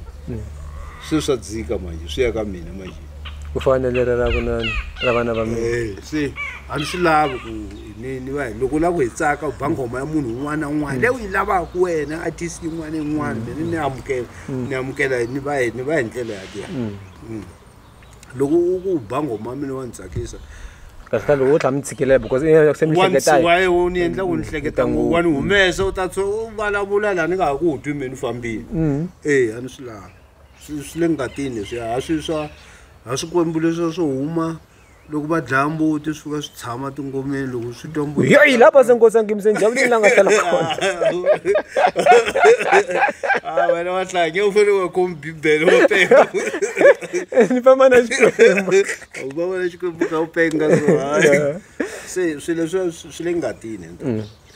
swilo swa dzika manje swi ya ka mina manje ku fana na leri ra kunani ra vana va mina eh, se a ni swi lavi ku ni ni va loko u lava ku hi tsaka u ba nghoma ya munhu un'wana na un'wana leyi u yi lavaka wena artist yin'wana na yin'wana mina ni amukela mm. ni amukela ni va ni va hi ndlela yaliya mm. mm. loko u ku ba nghoma mina wa ni tsakisa kasi ka loko u tlha mi tshikilela because se mi hleketawaye u ni endla ku ni hleketa ngopfu wa ni humesa u ta tsho u vulavula laha ni nga ha ku wu twi mina u fambile e a ni swi lavi swi swi le ngatini swi a swi swa a swikwembu leswiya swo huma loko va dlaya mbuti swi fika swi tshama tingomeni loko swi twa mbuti yoyi lapha senkosi angimse njavulini la nga hlala kona Ah, wena wa hlange u fanele wa khomi bibele wa penga ni famba na xikwembu u va vona xikwembu ka u penga so hayi se swi leswiya swi swi le ngatini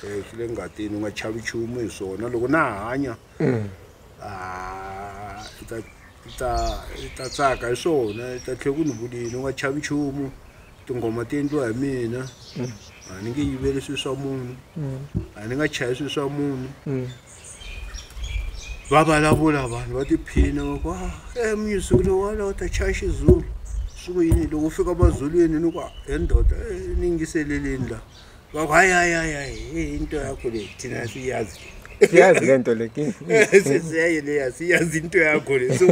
Eh, swi le ngatini u nga chavi nchumu hi swona loko na hanya haa i ta i ta i ta tsaka hi swona i ta tlhela ku ni vulini u nga chavi nchumu tinghoma ti endliwa hi mina a ni nge yiveli swilo swa munhu a ni nga chayi swilo swa munhu va vulavula vanhu va tiphina va ku a ah, eh, music lowala u ta chaya xizulu swi ku yini loko u fika mazulwini ni ku he ndoda eh, ni yingiseleleni laha Baku hayi hayi hayi hayi hey, into yakho le thina siyazi. Siyazi lento le. Siyaye le siyazi into yakho le. So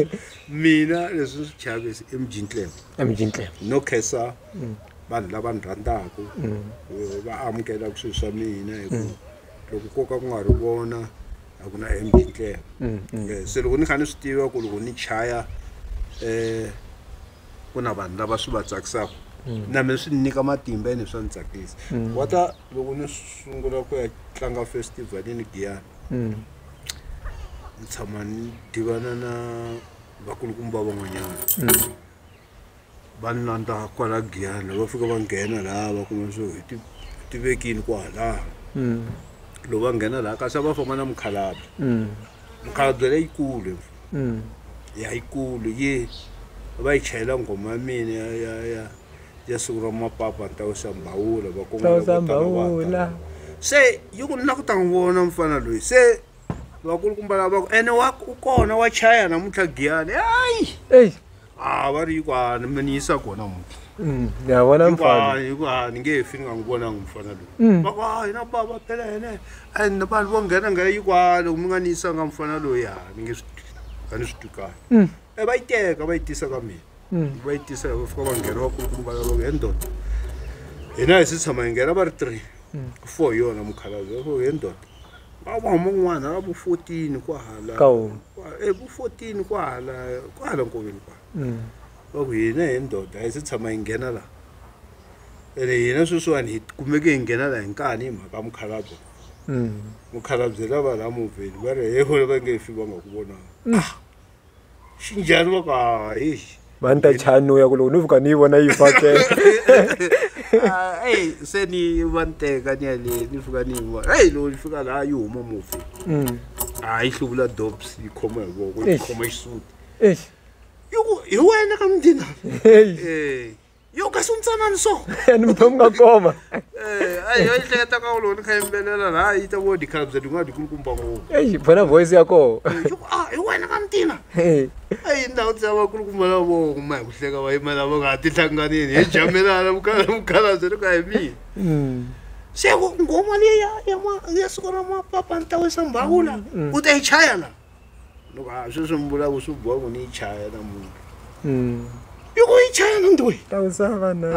mina leswi swi chavisi i mjintle. I mjintle. No kesa mm. vanhu lava ni rhandzaka mm. eh, va amukela ku swilo swa mina hi ku mm. loko ko ka ku nga ri vona a ku na mjintle. Eh, se loko ni kha ni swi tiva ku loko ni chaya eh ku na vanhu lava swi va tsakisaka mm. na mina swi nyika matimba ene swa ni tsakisa mm. wata loko ni sungula ku ya tlanga festival ni giyani mm. ni tshama ni divana na vakulukumba van'wanyana va ni landza kwala giyani va fika va nghena laha va kuma swo hi tivekini kwalaha loko va nghena laha kasi a va famba na mukhalabye mukhalabye leyikulu ya yikulu yi va yi chayela nghoma ya mina ya ya ya ya siku ra mapapa ni ta wisa mbhawula vakongomavula se yi ku na ku ta n'wi vona mfana loyi se vakulukumba lava ku ene wa u kona wa chaya namuntlha giyani hayi a va ri yi ku a mi ni yisa kona muti Mm, ya vona yi ku a mfana yi ku a ni nge he fi ni nga n'wi vonangi mfana loyi Mm. va ku a hina bava phela hene and vanhu vo nghena nga yi ku a loko mi nga ni yisanga mfana loyi a ni nge swi twi a ni swi twi kahle Mm. e va yi teka va yi tisa ka mina Mm. va yi tisa va fika va nghena va kulukumba va ku he ndoda hina hi si tshama hi nghena va ri three Mm. four hi yona mukhalabye va ku he ndoda va va huma kun'wana va vo 14 kwahala Ka wona. Kwa- eh, vo 14 kwahala kwahala nkoveni kwa Mm. va ku hina hi ndoda a yi se tshama yi nghena laha ene hina sweswiwani hi kumeke hi nghena laha hi nkani hi mhaka ya mukhalabye Mm. mukhalabye lava laha movheni va ri he hole va nge fi va nga ku vonanga swi njhani va ku ha eish va ni ta chanuya ku loko ni vuka ni yi vona yi fakela ah, eyi se ni va ni teka ni yale ni fika ni yi vona eyi loko ni fika laha yi huma mufi mm. a ah, yi hluvula dops yi khoma hi voko yi khoma xisuti hi wena ka mudinaa yo kasi u ntsanani so ni muthu nga koma eh ai yo ihleketa ka uloni kha yimbelela la yi ta vodi khala bya din'wana dikulukumba ngopfu ei bona voice ya koho ah i wena ka mtina ei ndhawu ti lava kulukumba la vo kuma hi ku hleka va yima lava nga ha ti hlanganini hi jamelana vukhala vukhala byi ri ka hi mina hmm. se ngoma leyi ya ya siku ra mapapa ni ta wisa mbhawula hmm. u ta yi chaya la loko ha sweswi mi vulaka swi boha ku ni yi chaya namuntlha Mm. i ku yi chaya na ntoyi Ta ku sa va na.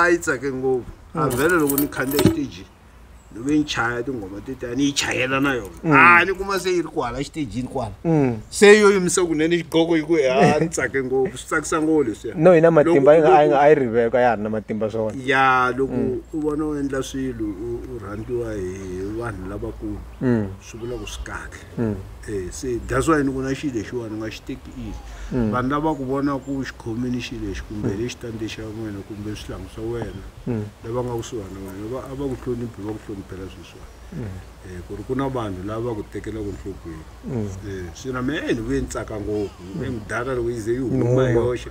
a yi tsake ngopfu a vhele loko ni khandziya xitejini ni ve ni chaya tinghoma tetiya ni yi chayela na yona a ni kuma se yi ri kwala xitejini kwala Mm. se yo yimisa kunene xigoko yi ku a ni tsake ngopfu swi tsakisa ngopfu leswiya No yi na matimba yi Loko- nga a yi nga a yi riveko a ya ha ri na matimba swona. ya loko u vona u endla swilo u- u rhandziwa hi vanhu lavakulu Mm. swi vula ku swi kahle mm. eh, se that's why ni ku na xilo lexiwani u nga xi teki easy mm. vanhu lava ku vona ku xi khomini xilo lexi kumbe mm. lexitandi xa n'wina kumbe swihlangu swa wena mm. lava nga kusuhani na wena a va ku hloniphi va ku hloniphela sweswiwani mm. eh, ku ri ku na vanhu lava va ku tekelaka nhlokweni mm. eh, se na mina ni vuye ni tsaka ngopfu ni mudala loko yi ze yi huma yoxe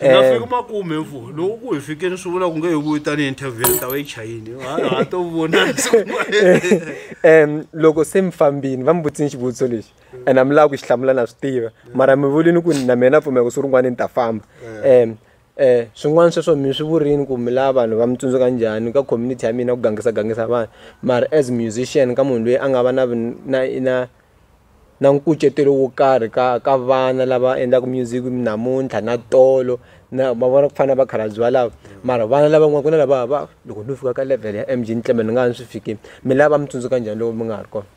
hi nga fika makume mfo loko ku hi fikeni swi vula ku nge hi vuyi tanihi interview ni ta va yi chayini ha to vona um loko se mi fambini va mi vutise ni xivutiso lexi and a mi lava ku xi hlamula na swi tiva mara mi vulini ku na mina pfumela ku swi rin'wana ni ta famba um um swin'wana sweswo mi swi vurini ku mi lava vanhu va mi tsundzuka njhani ka community ya mina ku gangisa gangisa vanhu mara as musician ka munhu loyi a nga va na na na na nkucetelo wo karhi ka ka vana lava endlaku music namuntlha na tolo na ma vona ku fana na vakhalabye valavo mara vana lava n'wana ku na lava va loko no fika ka level ya M_G ni ni nga ha ni swi fikile mi lava va mi tsundzuka njhani loko mi nga ha ri kona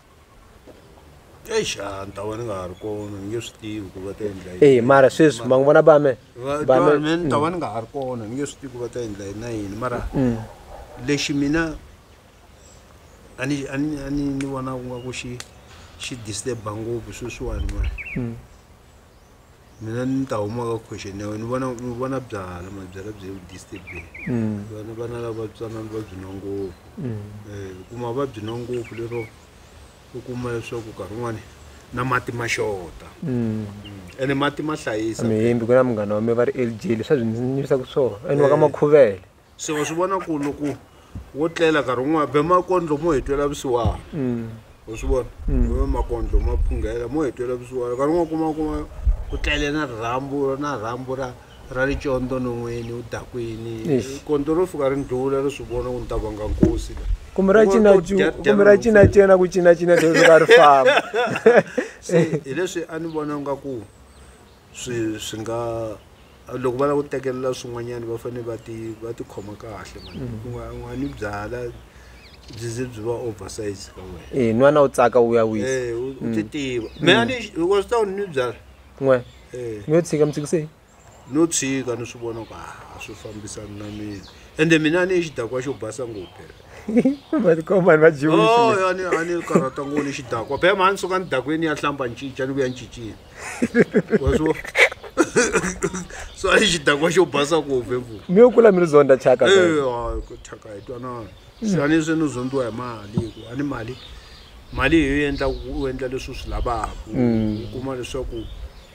eish a ni ta va ni nga ha ri kona ni nge swi tivi ku va ta endla yini eyi mara sweswi ma n'wi vona ba me ba me me ni ta va ni nga ha ri kona ni nge swi tivi ku va ta endla yini na yini mara lexi mina a ni a ni a ni ni vona ku nga ku xi xi disturba ngopfu sweswiwani mani hmm. mina ni ta huma ka question ya wena ni vona ni vona byala mabyala byi ku disturbeni hmm. vana vana lava tsanana va byi nwa ngopfu um kuma va byi nwa ngopfu lero u kuma leswaku nkarhi wun'wani na mati ma xota ene mati ma hlayisa mihimbi ku na munghana wa mi va ri lg leswi a byi ndzi nyivisa ku swona ene wa ka makhuvele se wa swi vona ku loko wo tlela nkarhi wun'wana be makondlo mo hi twela vusiwana mm. u swi vona mm. be makondlo ma phunghela mo hi twela vusiwana nkarhi wun'wana kuma kuma u tlele na rhambu na rhambu ra ra licondo non'wini u dakwini kondlo ro fika ri ndlula ri swi vona ku ni ta vanga nkosi la kumbe ra cinakumbe ra cinacina ku cinacina dzoka ri famba hileswi a ni vona nga ku swi swi nga loko va lava ku tekelela swin'wanyana va fanele va ti va tikhoma kahle mani mm. ku nga nga ni byala byi ze byi va oversize ka wena eh nwana u tsaka u ya wisa eh u mm. ti tiva me a ni wa swi tawuni ni byala n'we eh mi yo tshika mi tshikise no tshika ni swi vona ku a swi fambisani na mina ende mina a ni yi xidakwa xo basa ngopfu phela matikomani va jiwani oh, a ni karhata ngoni xidakwa phela mhani suka ni dakweni ya hlamba ni cinca ni vuya ni cincile wazvo so ai chidhakwa chobhasa kuhove mvura miyokula miri zonda chaka chaka itwana siyane senozondiwa hi mali ku ani mali mali hi yo endla u endla leswi u swi lavaka mm. u kuma leswaku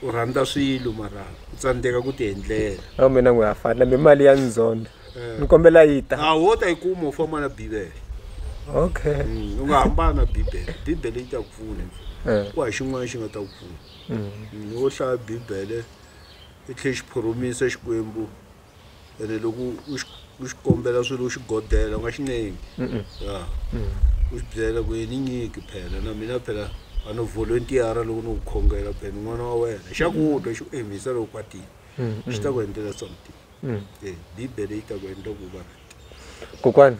u rhandza swilo mara u tsandzeka ku ti endlela a mina n'wi ya fanela mi mali ya ndzonda ni kombela yi ta a wo ta yi kuma u famba na bibele okay Mm, u nga hambana na bibele bibele yi ta ku pfuna Eh. ku ha xin'wana xi nga ta ku pfuna Mm. Mm, wo hlaya bibele i tlhe xi phoromisa xikwembu ene loko u xi- u xi kombela swilo u xi godela u nga xi nengi Mm-mm. ya u xi byela ku yini nyiki phela na mina phela a no volontiyara loko no ku khongela phela ni n'wana wa wena xa ku twa xi ku emisa loko kwatile Mm, xi ta ku endlela something Eh, bibele yi ta ku endla ku va kokwani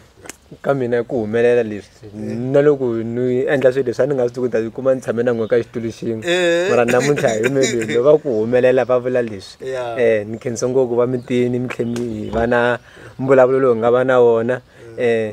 ka mina ku humelela leswi na loko ni endla swilo leswi a ni nga swi tiku ta kuma ni tshame na n'we ka xitulu xin'we Eh. mara namuntlha hi melweni va ku humelela va vula leswi Yeah. um ni khensa ngopfu va mitini mi tlhe mi hi va na mbulavulo lowu hi nga va na wona um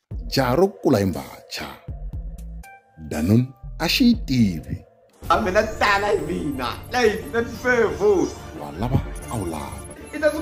jaha ro kula hi mbacha danun a xi yi tivi a mina tala hi mina leyi na tifevo wa lava a wu lava i ta ku